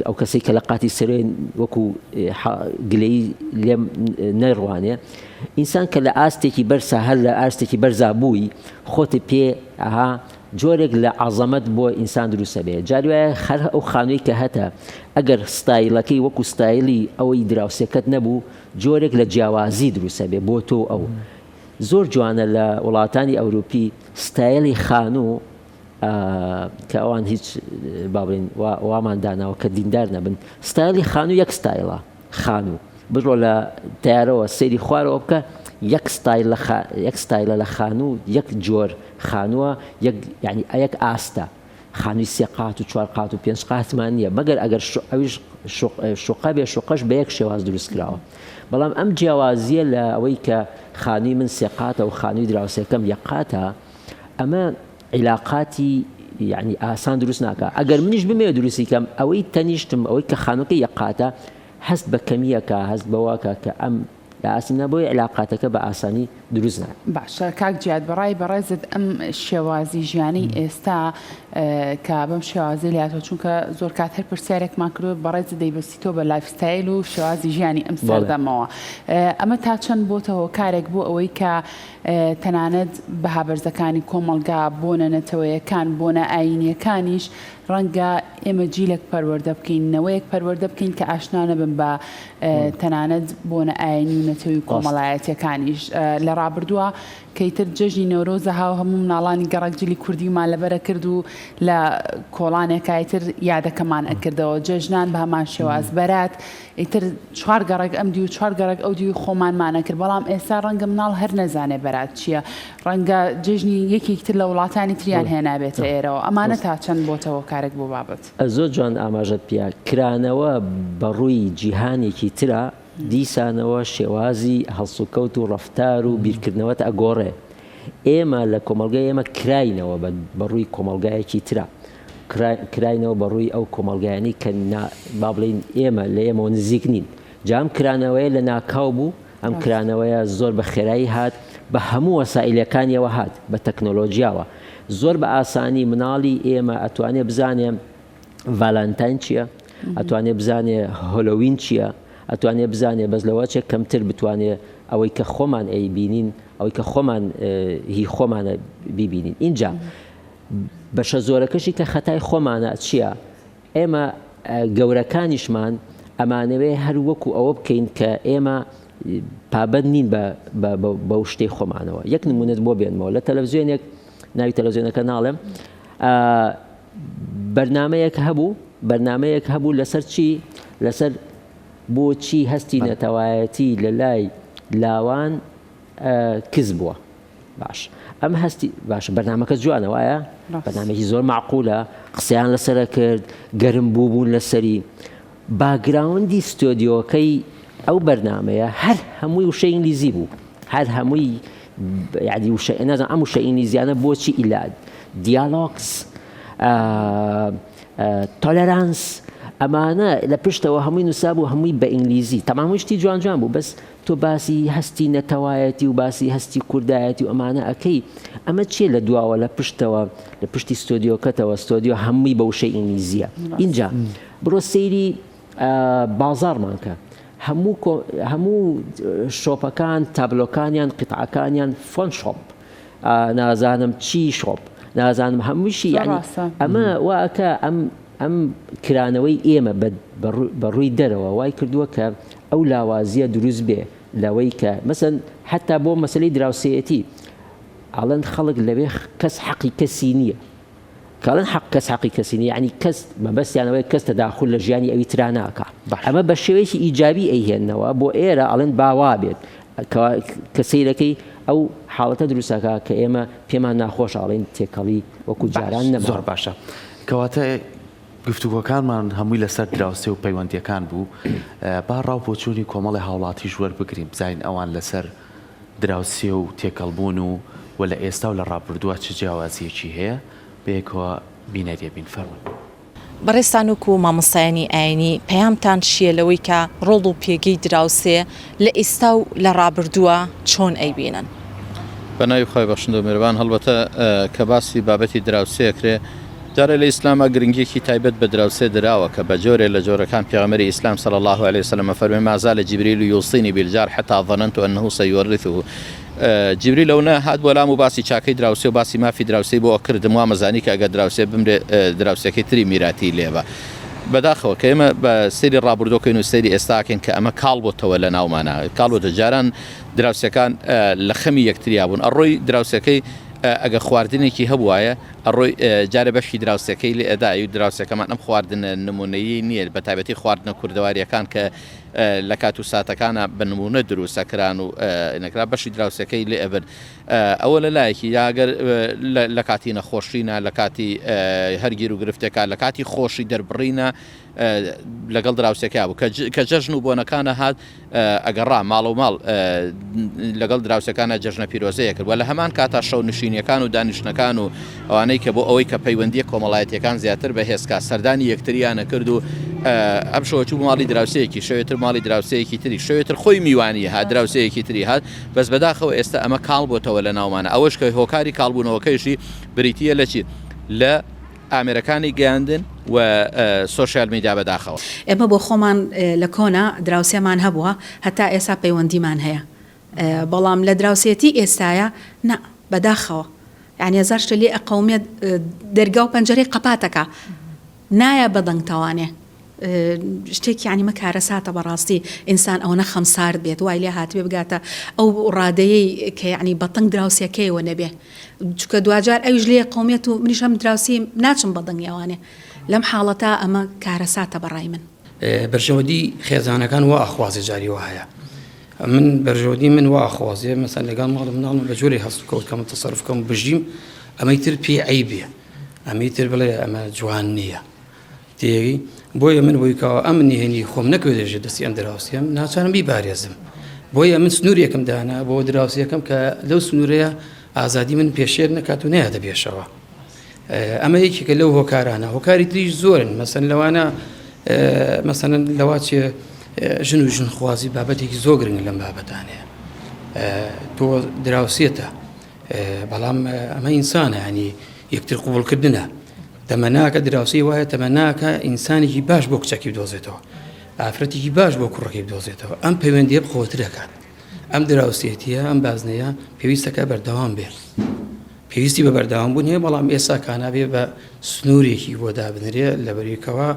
ئەو کەسەی کە لە قاتی سەرێ وەکو حە گلەیی لێم نەیڕوانێ ئینسان کە لە ئاستێکی بەرزا هەر لە ئاستێکی بەرزا بووی خۆت پێ ئەها جۆرێک لە عەزەمەت بۆ ئینسان دروست ئەبێ جاری وایە هەر ئەو خانووی کە هەتە ئەگەر ستایلەکەی وەکو ستایلی ئەوەی دراوسێکەت نەبوو جۆرێک لە جیاوازی دروست ئەبێ بۆ تۆ و ئەو زۆر جوانە لە وڵاتانی ئەوروپی ستایلی خانوو کە ئەوان هیچ با بڵێین وامان داناوە کە دیندار نەبن ستایلی خانوو یەک ستایلە خانو بڕۆ لە تەیارەوە سەیری خوارەوە بکە یەک ستایل لە خا یەک ستایلە لە خانو یەک جۆر خانوە یەک یانی ئەیەک ئاستە خانوی سێ قات و چوار قات و پێنج قاتمان نییە مەگەر ئەگەر شو ئەویش شوق شوقە بێ شوقەش بە یەک شێواز دروست کراوە بەڵام ئەم جیاوازیە لە ئەوەی کە خانوی من سێ قاتە و خانوی دراوسێکەم یەک قاتە ئەمە عیلاقاتی یەعنی ئاسان دروست ناکا ئەگەر منیش بمەوێ دروستی کەم ئەوەی تەنیشتم ئەوەی کە خانوەکەی یەک قاتە هەست بە کەمیەکا هەست بەوەکا کە ئەم لە ئاستم نا بۆیە عیلاقاتەکە بە ئاسانی دروست نا. باشە کاک جیاد بەڕای بەڕێزت ئەم شێوازی ژیانەی ئێستا کە بەم شێوازی لاتوە چونکە زۆر کات هەر پرسیارێکمان کردوە بەڕێزت دەیبەستیتەوە بە لایف ستایل و شێوازی ژیانی ئەم سەردەمەوە ئەمە تا چەند بۆتە هۆکارێک بۆ ئەوەی کە تەنانەت بەها بەرزەکانی کۆمەڵگا، بۆنە نەتەوەیەکان، بۆنە ئایینییەکانیش، ڕەنگە ئێمە جیلێک پەروەردە بکەین، نەوەیەک پەروەردە بکەین کە ئاشنا نەبن بە تەنانەت بۆنە ئایینی و نەتەوی و کۆمەڵایەتییەکانیش. لە ڕابردووە کە ئیتر جەژنی نەورۆزە ها و هەموو مناڵانی گەڕەک جلی کوردیمان لەبەر ئەکرد و لە کۆڵانێکا ئیتر یادەکەمان ئەکردەوە. جەژنان بە هەمان شێواز، بەرات، ئیتر چوار گەڕەک ئەم دیو چوار گەڕەک ئەو دیوی خۆمانمانە کرد بەڵام ئێستا ڕەنگە مناڵ هەر نەزانێ بەرات چییە ڕەنگە جێژنی یەکێکتر لە وڵاتانی تریان هێنابێتە ئێرەوە ئەمانە تا چەند بۆتەوە کارێک بۆ بابەت زۆر جوان ئاماژەت پیا کرانەوە بە ڕووی جیهانێکی ترا دیسانەوە شێوازی هەڵسوکەوت و ڕفتار و بیرکردنەوەت ئەگۆڕێ ئێمە لە کۆمەلگای ئێمە کراینەوە بە ڕووی کۆمەلگایەکی ترا کراینەوە بە ڕووی ئەو کۆمەڵگایانەی کە با بڵێین ئێمە لە ئێمەوە نزیک نین جام کرانەوەیە لە ناکاو بوو ئەم کرانەوەیە زۆر بە خێرایی هات بە هەموو وەسائلەکانیەوە هات بە تەکنۆلۆژیاوە زۆر بە ئاسانی مناڵی ئێمە ئەتوانێ بزانێ ڤالانتاین چییە؟ ئەتوانێ بزانێ هۆلۆوین چییە؟ ئەتوانێ بزانێ بەس لەوەچێک کەمتر بتوانێ ئەوەی کە خۆمان ئەی بینین ئەوەی کە خۆمان هی خۆمانە بیبینین اینجا بەشە زۆرەکەشی کە خەتای خۆمانە چیە؟ ئێمە گەورەکانیشمان ئەمانەوێ هەر وەکو ئەوە بکەین کە ئێمە پابەند نین بەو شتەی خۆمانەوە یەک نمونەت بۆ بێنمەوە لە تەلەڤزیۆنێک ناوی تەلەڤزیۆنەکە ناڵێم بەرنمەیەک هەبوو بەرنمەیەک هەبوو لەسەر چی لەسەر بۆچی هەستی نەتەوایەتی لە لای لاوان کز بووە باش ئەم هەستی باشە بەرنمەکە جوانە وایە بەنامێکی زۆر معقولە قسەیان لەسرە کرد گەرم بوو بوون لەسەری باگراوندی ستۆدیۆکەی ئەو بەرنمەیە هەر هەمووی وشە ئینگلیزی بوو هەر هەمووی یادی وشە نازان ئەم وشە ئینگلیزیانە بۆچی ئیلاد دیالۆکس تۆلەرانس ئەمانە لە پشتەوە هەمووی نووسا بوو هەمووی بە ئینگلیزی تەمامشتی جوان جوان بوو بەس تۆ باسی هەستی نەتەوایەتی و باسی هەستی کوردایەتی و ئەمانە ئەکەی ئەمە چیە لە دواوە لە پشتەوە لە پشتی ستۆدیۆکەتەوە ستۆدیۆ هەمووی بە وشەی ئینگلیزیە ئینجا بڕۆ سەیری بازاڕمان کە هەموو هەموو شۆپەکان تابلۆکانیان قیتعەکانیان فۆن شۆپ نازانم چی شۆپ نازانم هەمووشی ینی ئەمە واکە ئەم ئەم کرانەوەی ئێمە بە ڕووی دەرەوە وای کردووە کە ئەو لاوازییە دروست بێ لەوەی کە مەسەن حتا بۆ مەسەی دراوسێیەتی ئاڵێن خەڵک لەوێ کەس حەقی کەسی نییە کاڵن حق کەس حقی کەسی نیانی کەس مەبەستیانەوەی کەس تەداخل لە ژیانی ئەوی ترا ناکە ئەمە بە شێوەیەکی ئیجابی ئەیهێنەوە بۆ ئێرە ئەڵێن باوا بێت کە سیرەکەی ئەو حاڵەتە دروستەکە کە ئێمە پێمان ناخۆش ئاڵین تێکەڵی وەکو جاران نە زۆر باشە. کەواتە گفتوگۆکانمان هەمووی لەسەر دراوسێ و پەیوەندییەکان بوو، با ڕا و بۆچوونی کۆمەڵی هاوڵاتیش وەربگرین بزانین ئەوان لەسەر دراوسێ و تێکەڵبوون و و لە ئێستا و لە ڕابردووە چ جیاوازییەکی هەیە، بەیەکەوە بینەری ئەبین. فەرموون. بەڕێزتان وەکو مامۆستایانی ئاینی پەیامتان چییە لەوەی کە ڕۆڵ و پێگەی دراوسێ لە ئیستا و لە ڕابردووە چۆن ئەیبینن؟ بە ناوی خوای بەخشندەو میرەبان هەڵبەتە کە باسی بابەتی دراوسێ ئەکرێ، دیارە لە ئیسلامە گرنگیەکی تایبەت بە دراوسێ دراوە کە بە جۆرێ لە جۆرەکان پێغەمبەری ئیسلام صلی اللە علیە وسلم ئەفەرموێ ما زال جبریل یوصینی بالجار حتی ظننت انه سیورثه جبریل ئەونە هات بۆ لام و باسی چاکەی دراوسێ و باسی مافی دراوسێی بۆ ئەکردم وامەزانی کە ئەگەر دراوسێ بمرێ دراوسێکەی تری میراتی لێبا بەداخەوە کە ئێمە بە سەیری ڕابوردوە کەین و سەیری ئێستاکەین کە ئەمە کاڵ بۆتەوە لە ناومانا کاڵ بۆتە جاران دراوسێکان لە خەمی یەکتریا بوون ئەڕۆی دراوسەکەی ئەگە خواردنێکی هەبوایە ئەڕۆی جارە بەشی دراوسەکەی لێ ئەدا ئەوی دراوسەکەمان ئەم خواردنە نمونەیی نییە بە تایبەتی خواردنە کوردەواریەکان کە لە کات و ساتەکانە بە نمونە دروسەکران و نەکرا بەشی دراوسەکەی لێ ئەبرد ئەوە لە لایەکی، جا گەر لە کاتی نەخۆشینا، لە کاتی هەر گیروگرفتێکا، لە کاتی خۆشی دەربڕینا لەگەڵ دراوسێکەیا بوو، کە جەژن و بۆنەکانە هات ئەگەڕا ماڵەو ماڵ لەگەڵ دراوسێکانا جەژنە پیرۆزەیە کرد و لە هەمان کاتا شەونشینیەکان و دانیشتنەکان و ئەوانەی کە بۆ ئەوەی کە پەیوەندیە کۆمەڵایەتیەکان زیاتر بەهێزکا سەردانی یەکتریان ئەکرد و ئەم شەوە چوو ماڵی دراوسێیەکی شەوێ تر ماڵی دراوسێیەکی تری شەوێ تر خۆی میوانی هات دراوسێیەکی تری هات بەس بەداخەوە ئێستا ئەمە کاڵ بۆتەوە لە ناومانا ئەوەش کە هۆکاری کاڵبوونەوەکەیشی بریتی یە لە چی لە ئامێرەکانی گەیاندن و سۆشیال میدیا بەداخەوە. ئێمە بۆ خۆمان لە کۆنا دراوسێمان هەبووە هەتا ئێسا پەیوەندیمان هەیە بەڵام لە دراوسێتی ئێستایا نا بەداخەوە یانی هەزار شتە لێ ئەقەومێت دەرگا و پەنجەرەی قەپاتەکا نایە بە دەنگ تەوانێ. شتێک یانی مە کارەساتە بەڕاستی ئینسان ئەوەنە خەم سارد بێت وای لێ هاتبێ بگاتە ئەو ڕادەیەی کە یانی بە تەنگ دراوسێکەیەوە نەبێ چکە دواجار ئەویش لێ قومێت و منیش هەم دراوسی ناچم بە دەنگی ئەوانێ لەم حاڵەتا ئەمە کارەساتە بەڕای من بەرژەوەدی خێزانەکان وا ئەخوازێ جاری وە هەیە من بەرژەوەدی من وا ئەخوازێ مەسەن لەگەڵ ماڵ مناڵم بە جۆری هەست کەوتکەم تەسەرفکەم بژیم ئەمەی تر پێ عیبێ ئەمی تر بڵێ ئەمە جوان نییە تێری، بۆیە من بۆی کەوا ئەم نهێنی خۆم نەکەوێت لەژێر دەستی ئەم دراوسێم، ناچارم بیپارێزم. بۆیە من سنوورێکم دانا بۆ دراوسێکەم کە لەو سنوورەیە ئازادی من پێشێل نەکات و نەیاتە پێشەوە. ئەمە یەکێکە لەو هۆکارانە، هۆکاری تریش زۆرن، مەسەن لەوانە مەسەن لەوا چێ ژن و ژنخوازی بابەتێکی زۆر گرنگ لەم بابەتانەیە. تۆ دراوسێتە. بەڵام ئەمە ئینسانە ینی یەکتر قوبولکردە تەمەناکە دراوسی وایە تەمەناکە ئینسانێکی باش بۆ کچەکی دۆزێتەوە ئافرەتێکی باش بۆ کوڕەکەی بدۆزێتەوە ئەم پەیوەندی بخۆتر دەکات ئەم دراوسێتیە ئەم بازنەیە پێویستەکە بەردەوام بێت پێویستی بە بەردەوام بوون هەیە بەڵام ئێستا کانابێ بە سنوورێکی بۆ دابنرێ لە بەریکەوە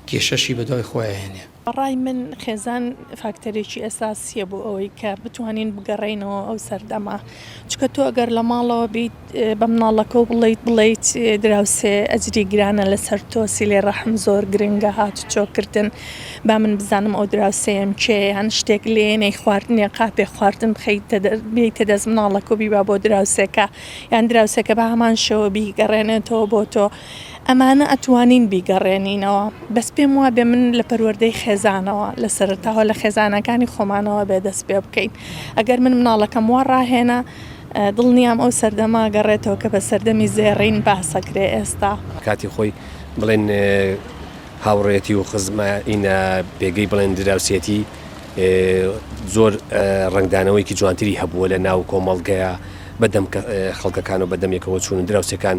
کێشەشی بەدوای خۆیانێ بەڕای من خێزان فاکتەرێکی ئەساسیە بۆ ئەوەی کە بتوانین بگەڕێینەوە ئەو سەردەمە چکە تۆ ئەگەر لە ماڵەوە بیت بە مناڵەکە و بڵیت بڵیت دراوسێ ئەجری گرانە لەسەر تۆ سیلێ ڕەحم زۆر گرنگە هات چۆکردن با من بزانم ئەو دراوسەیەم کێیان شتێک لێ نەی خواردنێ قاپێ خواردن بخیت بیتە دەست مناڵەکە و بیبا بۆ دراوسێکە یان دراوسەکە بە هەمان شەوە بیگەڕێنێتەوە بۆ تۆ ئەمانە ئەتوانین بیگەڕێنینەوە بەس پێم وابێ من لە پەروەردەی خێزانەوە لە سەرەتاوە لە خێزانەکانی خۆمانەوە بێ دەست پێ بکەین ئەگەر من مناڵەکەم وا ڕاهێنا دڵنیام ئەو سەردەما گەڕێتەوە کە بە سەردەمی زێڕین باسەکرێ ئێستا کاتی خۆی بڵێن هاوڕێتی و خزمە ئینە پێگەی بڵێن دراوسێتی زۆر ڕنگدانەوەیکی جوانتری هەبووە لە ناو کۆمەڵگەیە بەدەم خەڵکەکان و بەدەمێکەوە چوون و دراوسەکان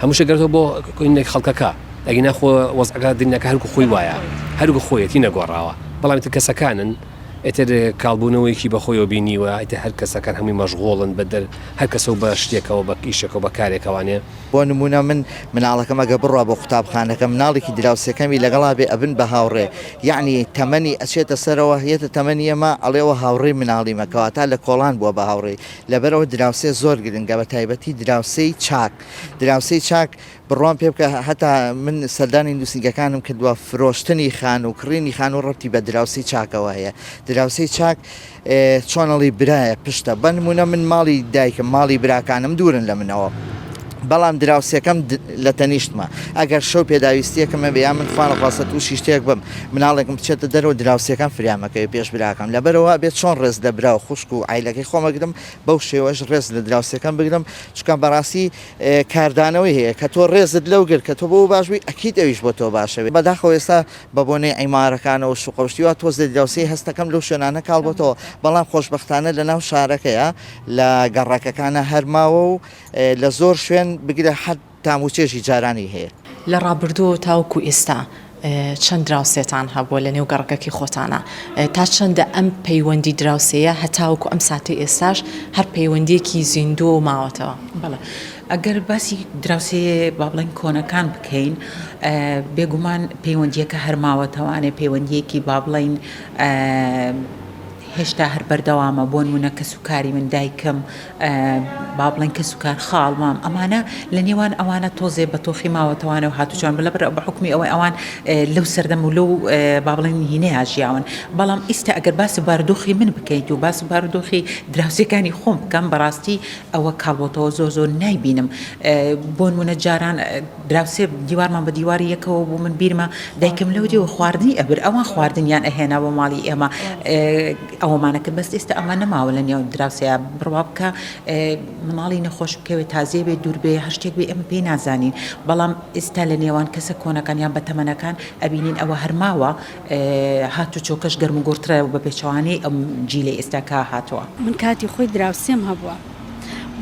هەموو شتێک گەردۆ بۆ کۆینە خەڵکەکە ئەگینا خۆ وەزعەکە دنیاکە هەرکو خۆی وایە هەرکو خۆیەتی نەگۆڕاوە بەڵام تر کەسەکانن ئیتر کاڵبوونەوەیەکی بەخۆیەوە بینیوە ئیتر هەر کەسەکان هەمووی مەشغوڵن بە دەر هەر کەسە و بە شتێکەوە بە ئیشێکەوە بە کارێکەوانێ. بۆ نموونە من مناڵەکەم ئەگەر بڕوا بۆ قوتابخانەکە مناڵێکی دراوسێکەمی لەگەڵا بێ ئەبن بە هاوڕێ یەعنی تەمەنی ئەچێتە سەرەوە یەتە تەمەنی ئەمە ئەڵێ ئەوە هاوڕێی مناڵیمە کەواتە لە کۆڵان بووە بە هاوڕێی لەبەرئەوە دراوسێ زۆر گرنگە بەتایبەتی دراوسێی چاک دراوسێی چاک بڕوام پێ بکە هەتا من سەردانی نوسینگەکانم کردوە فرۆشتنی خان و کڕینی خان و ڕەبتی بە دراوسێی چاکەوە هەیە دراوسێی چاک چۆنەڵی برایە پشتە بەنمونە من ماڵی دایکم ماڵی براکانم دورن لە منەوە بەڵام دراوسێکەم لە تەنیشتمە، ئەگەر شەو پێداویستییەکم هەبێ یا من خوانەخواستە تووشی شتێک بم، مناڵێکم بچێتە دەرەوە، دراوسێکەم فریامەکەوێ پێش براکەم. لەبەرئەوە ئەبێ چۆن ڕێز لە برا و خوشک و عایلەکەی خۆم ئەگرم، بەو شێوەیەش ڕێز لە دراوسێکەم بگرم، چونکە بەڕاستی کاردانەوەی هەیە، کە تۆ ڕێزت لەو گرت کە تۆ بۆ ئەو باش بووی، ئەکید ئەویش بۆ تۆ باشە. بەداخەوە ئێستا بە بۆنەی عیمارەکانەوە و شوقە و شتی وا تۆزێ دراوسێی هەستەکەم لەو شوێنانە کاڵ بۆتەوە، بەڵام خۆشبەختانە لە ناو شارەکەیا لە گەڕەکەکانا هەر ماوە و، لە زۆر شوێن بگرە حەد تام و چێژی جارانی هەیە. لە ڕابردووەوە تاوەکو ئێستا چەند دراوسێتان هەبووە لە نێو گەڕەکەکی خۆتانا؟ تا چەندە ئەم پەیوەندی دراوسێیە هەتاوەکو ئەم ساتەی ئێستاش هەر پەیوەندییەکی زیندووە و ماوەتەوە؟ بەڵێ ئەگەر باسی دراوسێیە با بڵێین کۆنەکان بکەین بێگومان پەیوەندییەکە هەر ماوەتەوانێ پەیوەندییەکی با بڵێین هێشتا هەر بەردەوامە بۆ نموونە کەس و کاری من دایکم با بڵێن کەس و کار خاڵ مام ئەمانە لە نێوان ئەوانە تۆزێ بە تۆخی ماوەتەوانە و هاتوچۆیان بە لەبەر بە حکومی ئەوەی ئەوان لەو سەردەم و لەو با بڵێن نهینەیە ژیاون بەڵام ئیستا ئەگەر باسی بارودۆخی من بکەیت و باسی بارودۆخی دراوسێکانی خۆم بکەم بەڕاستی ئەوە کاڵبۆتەوە زۆر زۆر نایبینم بۆن منە جاران دراوسێ دیوارمان بە دیواری یەکەوە بوو من بیرمە دایکم لەو دیوە خواردنی ئەبر ئەوان خواردنیان ئەهێنا بۆ ماڵی ئێمە ئەوەمانە کرد بەس ئێستا ئەوە نەماوە لە نێو دراوسێیا بڕوا بکە مناڵی نەخۆش بکەوێت تازێ بێ دوور بێ هەر شتێک بێ ئێمە پێی نازانین بەڵام ئێستا لە نێوان کەسە کۆنەکان یان بە تەمەنەکان ئەبینین ئەوە هەرماوە هات و چۆکەش گەرم و گۆڕترە بە پێچەوانەی ئەم جیلەی ئێستا کە هاتووە. من کاتی خۆی دراوسێم هەبووە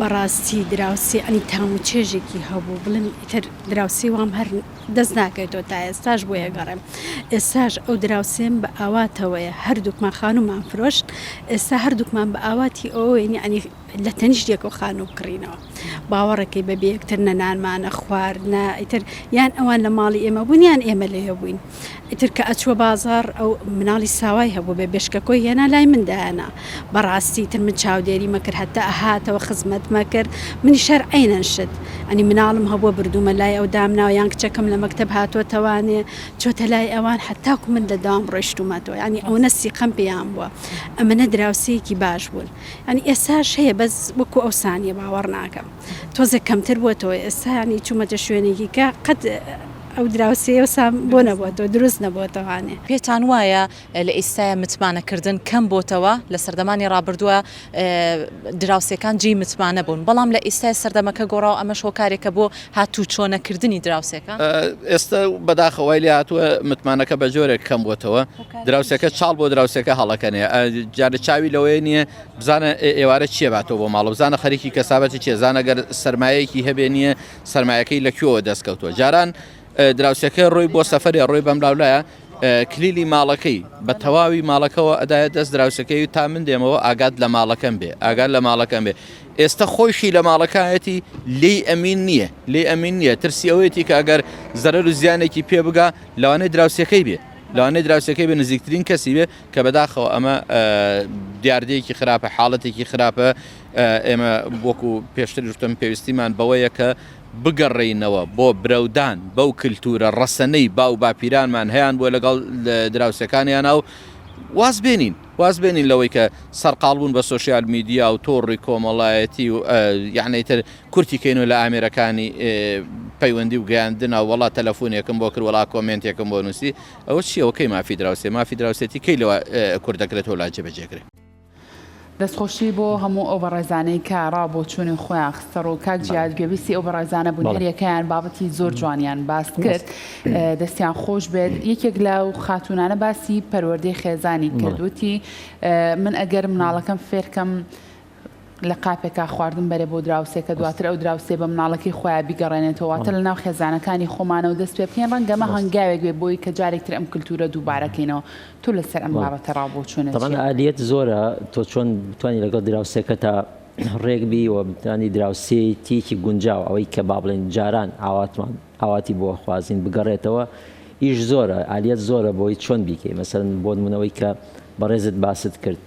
بەڕاستی دراوسێ ئەنی تام و چێژێکی هەبوو بڵێم ئیتر دراوسێ وام هەر دەست ناکەیتەوە تا ئێستاش بۆی ئەگەڕێم ئێستاش ئەو دراوسێم بە ئاواتەوەیە هەردووکمان خانومان فرۆشت ئێستا هەردووکمان بە ئاواتی ئەوەوەین ینی لە تەنیشتێک و خانوو بکڕینەوە باوەڕەکەی بە بێکتر نە نانمانە خوارد نە ئیتر یان ئەوان لە ماڵی ئێمە بوون یان ئێمە لێ بووین ئیتر کە ئەچووە بازاڕ ئەو مناڵی ساوای هەبوو بێ بێشکەکۆی هێنا لای من دایانا بەڕاستی تر من چاودێری مەکرد هەتا هاتەوە خزمەت مەکرد منیش هەر عەینەن شت ئەنی مناڵم هەبووە بردوومە لای ئەو دامناوە یان کچەکەم لە مەکتەب هاتۆتەوانێ چۆتە لای ئەوان هەتاکو من لە دام ڕۆیشتوومەتەوە یانی ئەونە سیقەم پێیان بووە ئەمەنە دراوسێیەکی باش بوون یانی ئێساش هەیە بەس وەکو ئەوسانیە باوەڕ ناکەم تۆزێ کەمتر بووەتەوە ئێستا یانی چوومەتە شوێنێکی کە قەت ئەو دراوسێیە وسا بۆ نەبۆتەوە دروست نەبۆتەوانێ. پێتان وایە لە ئیستایا متمانە کردن کەم بۆتەوە لە سەردەمانی ڕابردوە دراوسێکان جێی متمانە بوون بەڵام لە ئیستای سەردەمەکە گۆڕاو ئەمەش هۆکارێکە بۆ هاتوو چۆ نەکردنی دراوسێکە؟ ئێستا بەداخە وای لێ هاتوە متمانەکە بە جۆرێک کەم بۆتەوە دراوسێکە چاڵ بۆ دراوسێکە هەڵەکەنێ جارە چاوی لەوەیە نیە بزانە ئێوارە چێ باتەوە بۆ ماڵە بزانە خەریکی کەسابەتی چێزانەگەر سەرمایەکی هەبێ نیە سەرمایەکەی لە کوێوە دەست کەوتووە جاران دراوسەکە ڕۆی بۆ سەفرێ ڕۆی بەم لاولایە کلیلی ماڵەکەی بە تەواوی ماڵەکەەوە ئەدایە دەست دراوسەکەی تا من دێمەوە ئاگات لە ماڵەکەم بێ ئاگات لە ماڵەکەم بێ ئێستا خۆشی لە ماڵەکایەتی لی ئەمین نییە لی ئەمین نییە ترسی ئەوەیەتی کە ئەگەر زەرەر و زیانێکی پێ بگا لەوانەیە دراوسەکەی بێ لەوانەیە دراوسەکەی بە نزیکترین کەسی بێ کە بەداخەوە ئەمە دیاردەیەکی خراپە حاڵەتێکی خراپە ئێمە وەکو پێشتر وشتم پێویستیمان بەوەیە کە بگەڕێینەوە بۆ برەودان بەو کللتورە ڕەسەنەی باو باپیرانمان هەیان بۆ لەگەڵ دراوسەکانیانە و واز بێنین واز بێنین لەوەی کە سەرقالبوون بە سوۆسیال میدیا و تۆڕی کۆمەڵایەتی و یعنیتر کورتیکەین و لە ئامێرەکانی پەیوەندی و گەیاندنا وڵا تەلەفۆنێکم بۆ کرد وڵا کۆمنتێکم بۆ نووسی ئەوە چیەوەکەی مافی دراوسێ مافی دراوسێتی کەی لەوە کوردەکرێت و لا جێبەجێگرێت. دەستخۆشی بۆ هەموو ئەو بەڕێزانەی کە ڕاو بۆ چوونی خۆیان خستەڕوو کاک جیاد گوێبیستی ئەو بەڕێزانە بوون هەریەکەیان بابەتی زۆر جوانیان باس کرد دەستیان خۆش بێت یەکێک لە و خاتونانە باسی پەروەردەی خێزانی کردوتی من ئەگەر مناڵەکەم فێرکەم لە قاپێکا خواردن بەرێ بۆ دراوسێکە دواتر ئەو دراوسێ بە مناڵەکەی خۆیان بیگەڕێنێتەوەتە لە ناو خێزانەکانی خۆمانەوە دەست پێ بکەین ڕەنگەمە هەنگاوێک بێ بۆی کە جارێکتر ئەم کللتورە دووبارەکەینەوە تۆ لەسەر ئەم بابەتە ڕاو بۆچوونت چیە؟ طبعا ئالیەت زۆرە تۆ چۆن بتانی لەگەڵ دراوسێکەتا ڕێک بی و بتانی دراوسێتیەکی گونجاو ئەوەی کە با بڵێن جاران ئاواتمان ئاواتی بۆ خوازین بگەڕێتەوە ئیش زۆرە ئالیەت زۆرە بۆی چۆن بیکەی مەسەرن بۆ نمونەوەی کە بەڕێزت باست کرد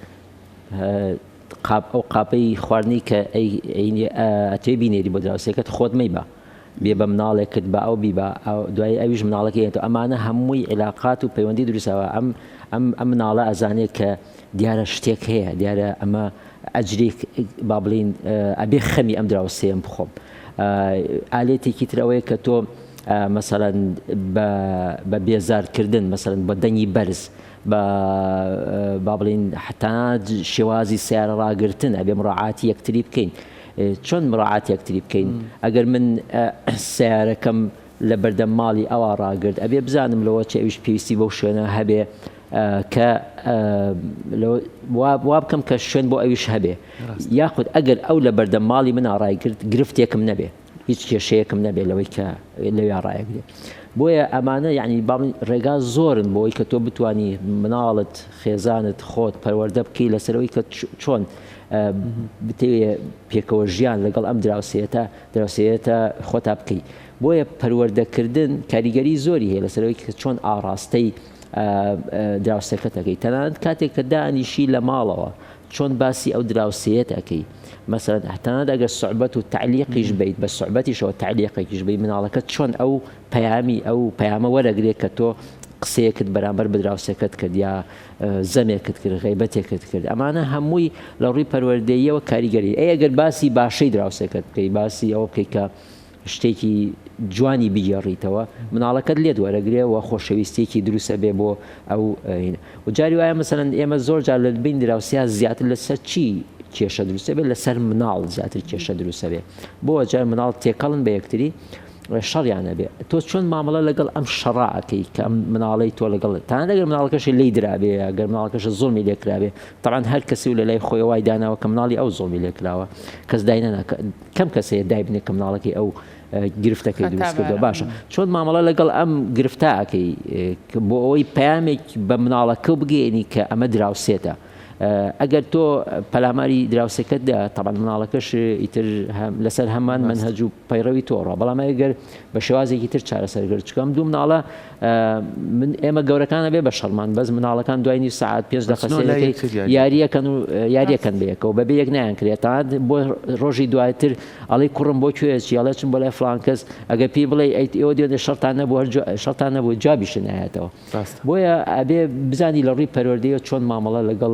قاپ ئەو قاپەی خواردنی کە ئەی ئەینی ئەتێ بینێری بۆ دراوسێکەت خۆت مەیبە بێ بە مناڵێکت با ئەو بیبا دوایی ئەویش مناڵەکەی ئەنێتەوە ئەمانە هەمووی عیلاقات و پەیوەندی دروست ئەوە ئەم ئەم ئەم مناڵە ئەزانێت کە دیارە شتێک هەیە دیارە ئەمە ئەجرێک با بڵین ئەبێ خەمی ئەم دراوسێم بخۆم ئالێتێکی تر ئەوەیە کە تۆ مەسەرەن بە بێزارکردن مەسەرن بە دەنگی بەرز بە با بڵین حتا شێوازی سیارە ڕاگرتن ئەبێ مڕعاتی یەکتری بکەین. چۆن مراعات یەکتری بکەین ئەگەر من سەیارەکەم لە بەردەم ماڵی ئەوا ڕاگرت ئەبێ بزانم لەوە چ ئەویش پێویستی بەو شوێنە هەبێ کە وا بکەم کە شوێن بۆ ئەویش هەبێ یاخود ئەگەر ئەو لە بەردەم ماڵی من ئاڕای کرد گرفتێکم نەبێ هیچ کێشەیەکم نەبێت لەوەی کە لەوێ ڕایەگرێت بۆیە ئەمانە یعنی باڵ ڕێگا زۆرن بۆی کە تۆ بتانی مناڵت خێزانت خۆت پەروەەردە بکەی لەسەرەوەی کە چۆن بتەوێ پێکەوە ژیان لەگەڵ ئەم دراوسێتە دراوسێتە خۆتا بکەی بۆیە پەروەردەکردن کاریگەری زۆری هەیە لەسەرەوەی کە چۆن ئاڕاستەی دراوسەکەتەکەی تەنانەت کاتێک کە دانیشی لە ماڵەوە چۆن باسی ئەو دراوسەیەت ئەەکەی مەسەرەت هەتانات ئەگەر سوعبەت و تعلیقیش بیت بە سوعبەتیشەوە تعلیقێکیش بی مناڵەکە چۆن ئەو پەیامی ئەو پەیامە وەرەگرێت کە تۆ قسەیەکت بەرامبەر بدراوسەکەت کرد یا زەمێکت کرد غیبەتێکت کرد ئەمانە هەمووی لە ڕووی پەروەردەیەوە کاریگەری ئەی ئەگەر باسی باشەی دراوسێکت بکەی باسی ئەوە بکەیت کە شتێکی جوانی بگێڕیتەوە مناڵەکەت لێت وەرەگرێ و خۆشەویستێکی دروستە بێ بۆ ئەو و جاری وایە مەسەرەن ئێمە زۆر جار لە بین دراوسیا زیاتر لەسەر چی کێشە دروستە بێت لەسەر مناڵ زیاتر کێشە دروستە بێ بۆ جار مناڵ تێکەڵن بە یەکتری شەڕیان هەبێ تۆ چۆن مامەڵە لەگەڵ ئەم شەڕە ئەکەی کە ئەم مناڵەی تۆ لەگەڵت تەنانەت ئەگەر مناڵەکەشی لێی درابێ ئەگەر مناڵەکەشە زوڵمی لێ کرابێ تەبعەن هەر کەسی و لەلای خۆی وای داناوە کە مناڵی ئەو زوڵمی لێ کراوە کەس دای نەنا کەم کەس هەیە دای بنێ کە مناڵەکەی ئەو گرفتەکەی دروست کردووە باشە چۆن مامەڵە لەگەڵ ئەم گرفتە ئەکەی بۆ ئەوەی پامێک بە مناڵەکە بگەێنی کە ئەمە دراوسێتە ئەگەر تۆ پەلاماری دراوسەکەتدا تەبان مناڵەکەش ئیتر لەسەر هەمان منهج و پەیڕەوی تۆڕە بەڵام ئەگەر بە شێوازێکی تر چارەسەرگرت چکەم دوو مناڵە من ئێمە گەورەکانە بێ بە شەرمان بەس مناڵەکان دوای نی سعات پێش دە یاریەکەن و یاریەکەن بەیەکەوە بەبێ یەک نیان کرێتان بۆ ڕۆژی دواتر ئەڵی کوڕم بۆ کوێچی ئەڵێ چم بۆ لای فلانکەس ئەگە پێی بڵێ ئەیت ئێوە دێنێ شەرتان نەبوو شەتان نەبوو جابیشنایەتەوە بۆیە ئەبێ بزانی لە ڕووی پەروەردەیە چۆن مامەڵە لەگەڵ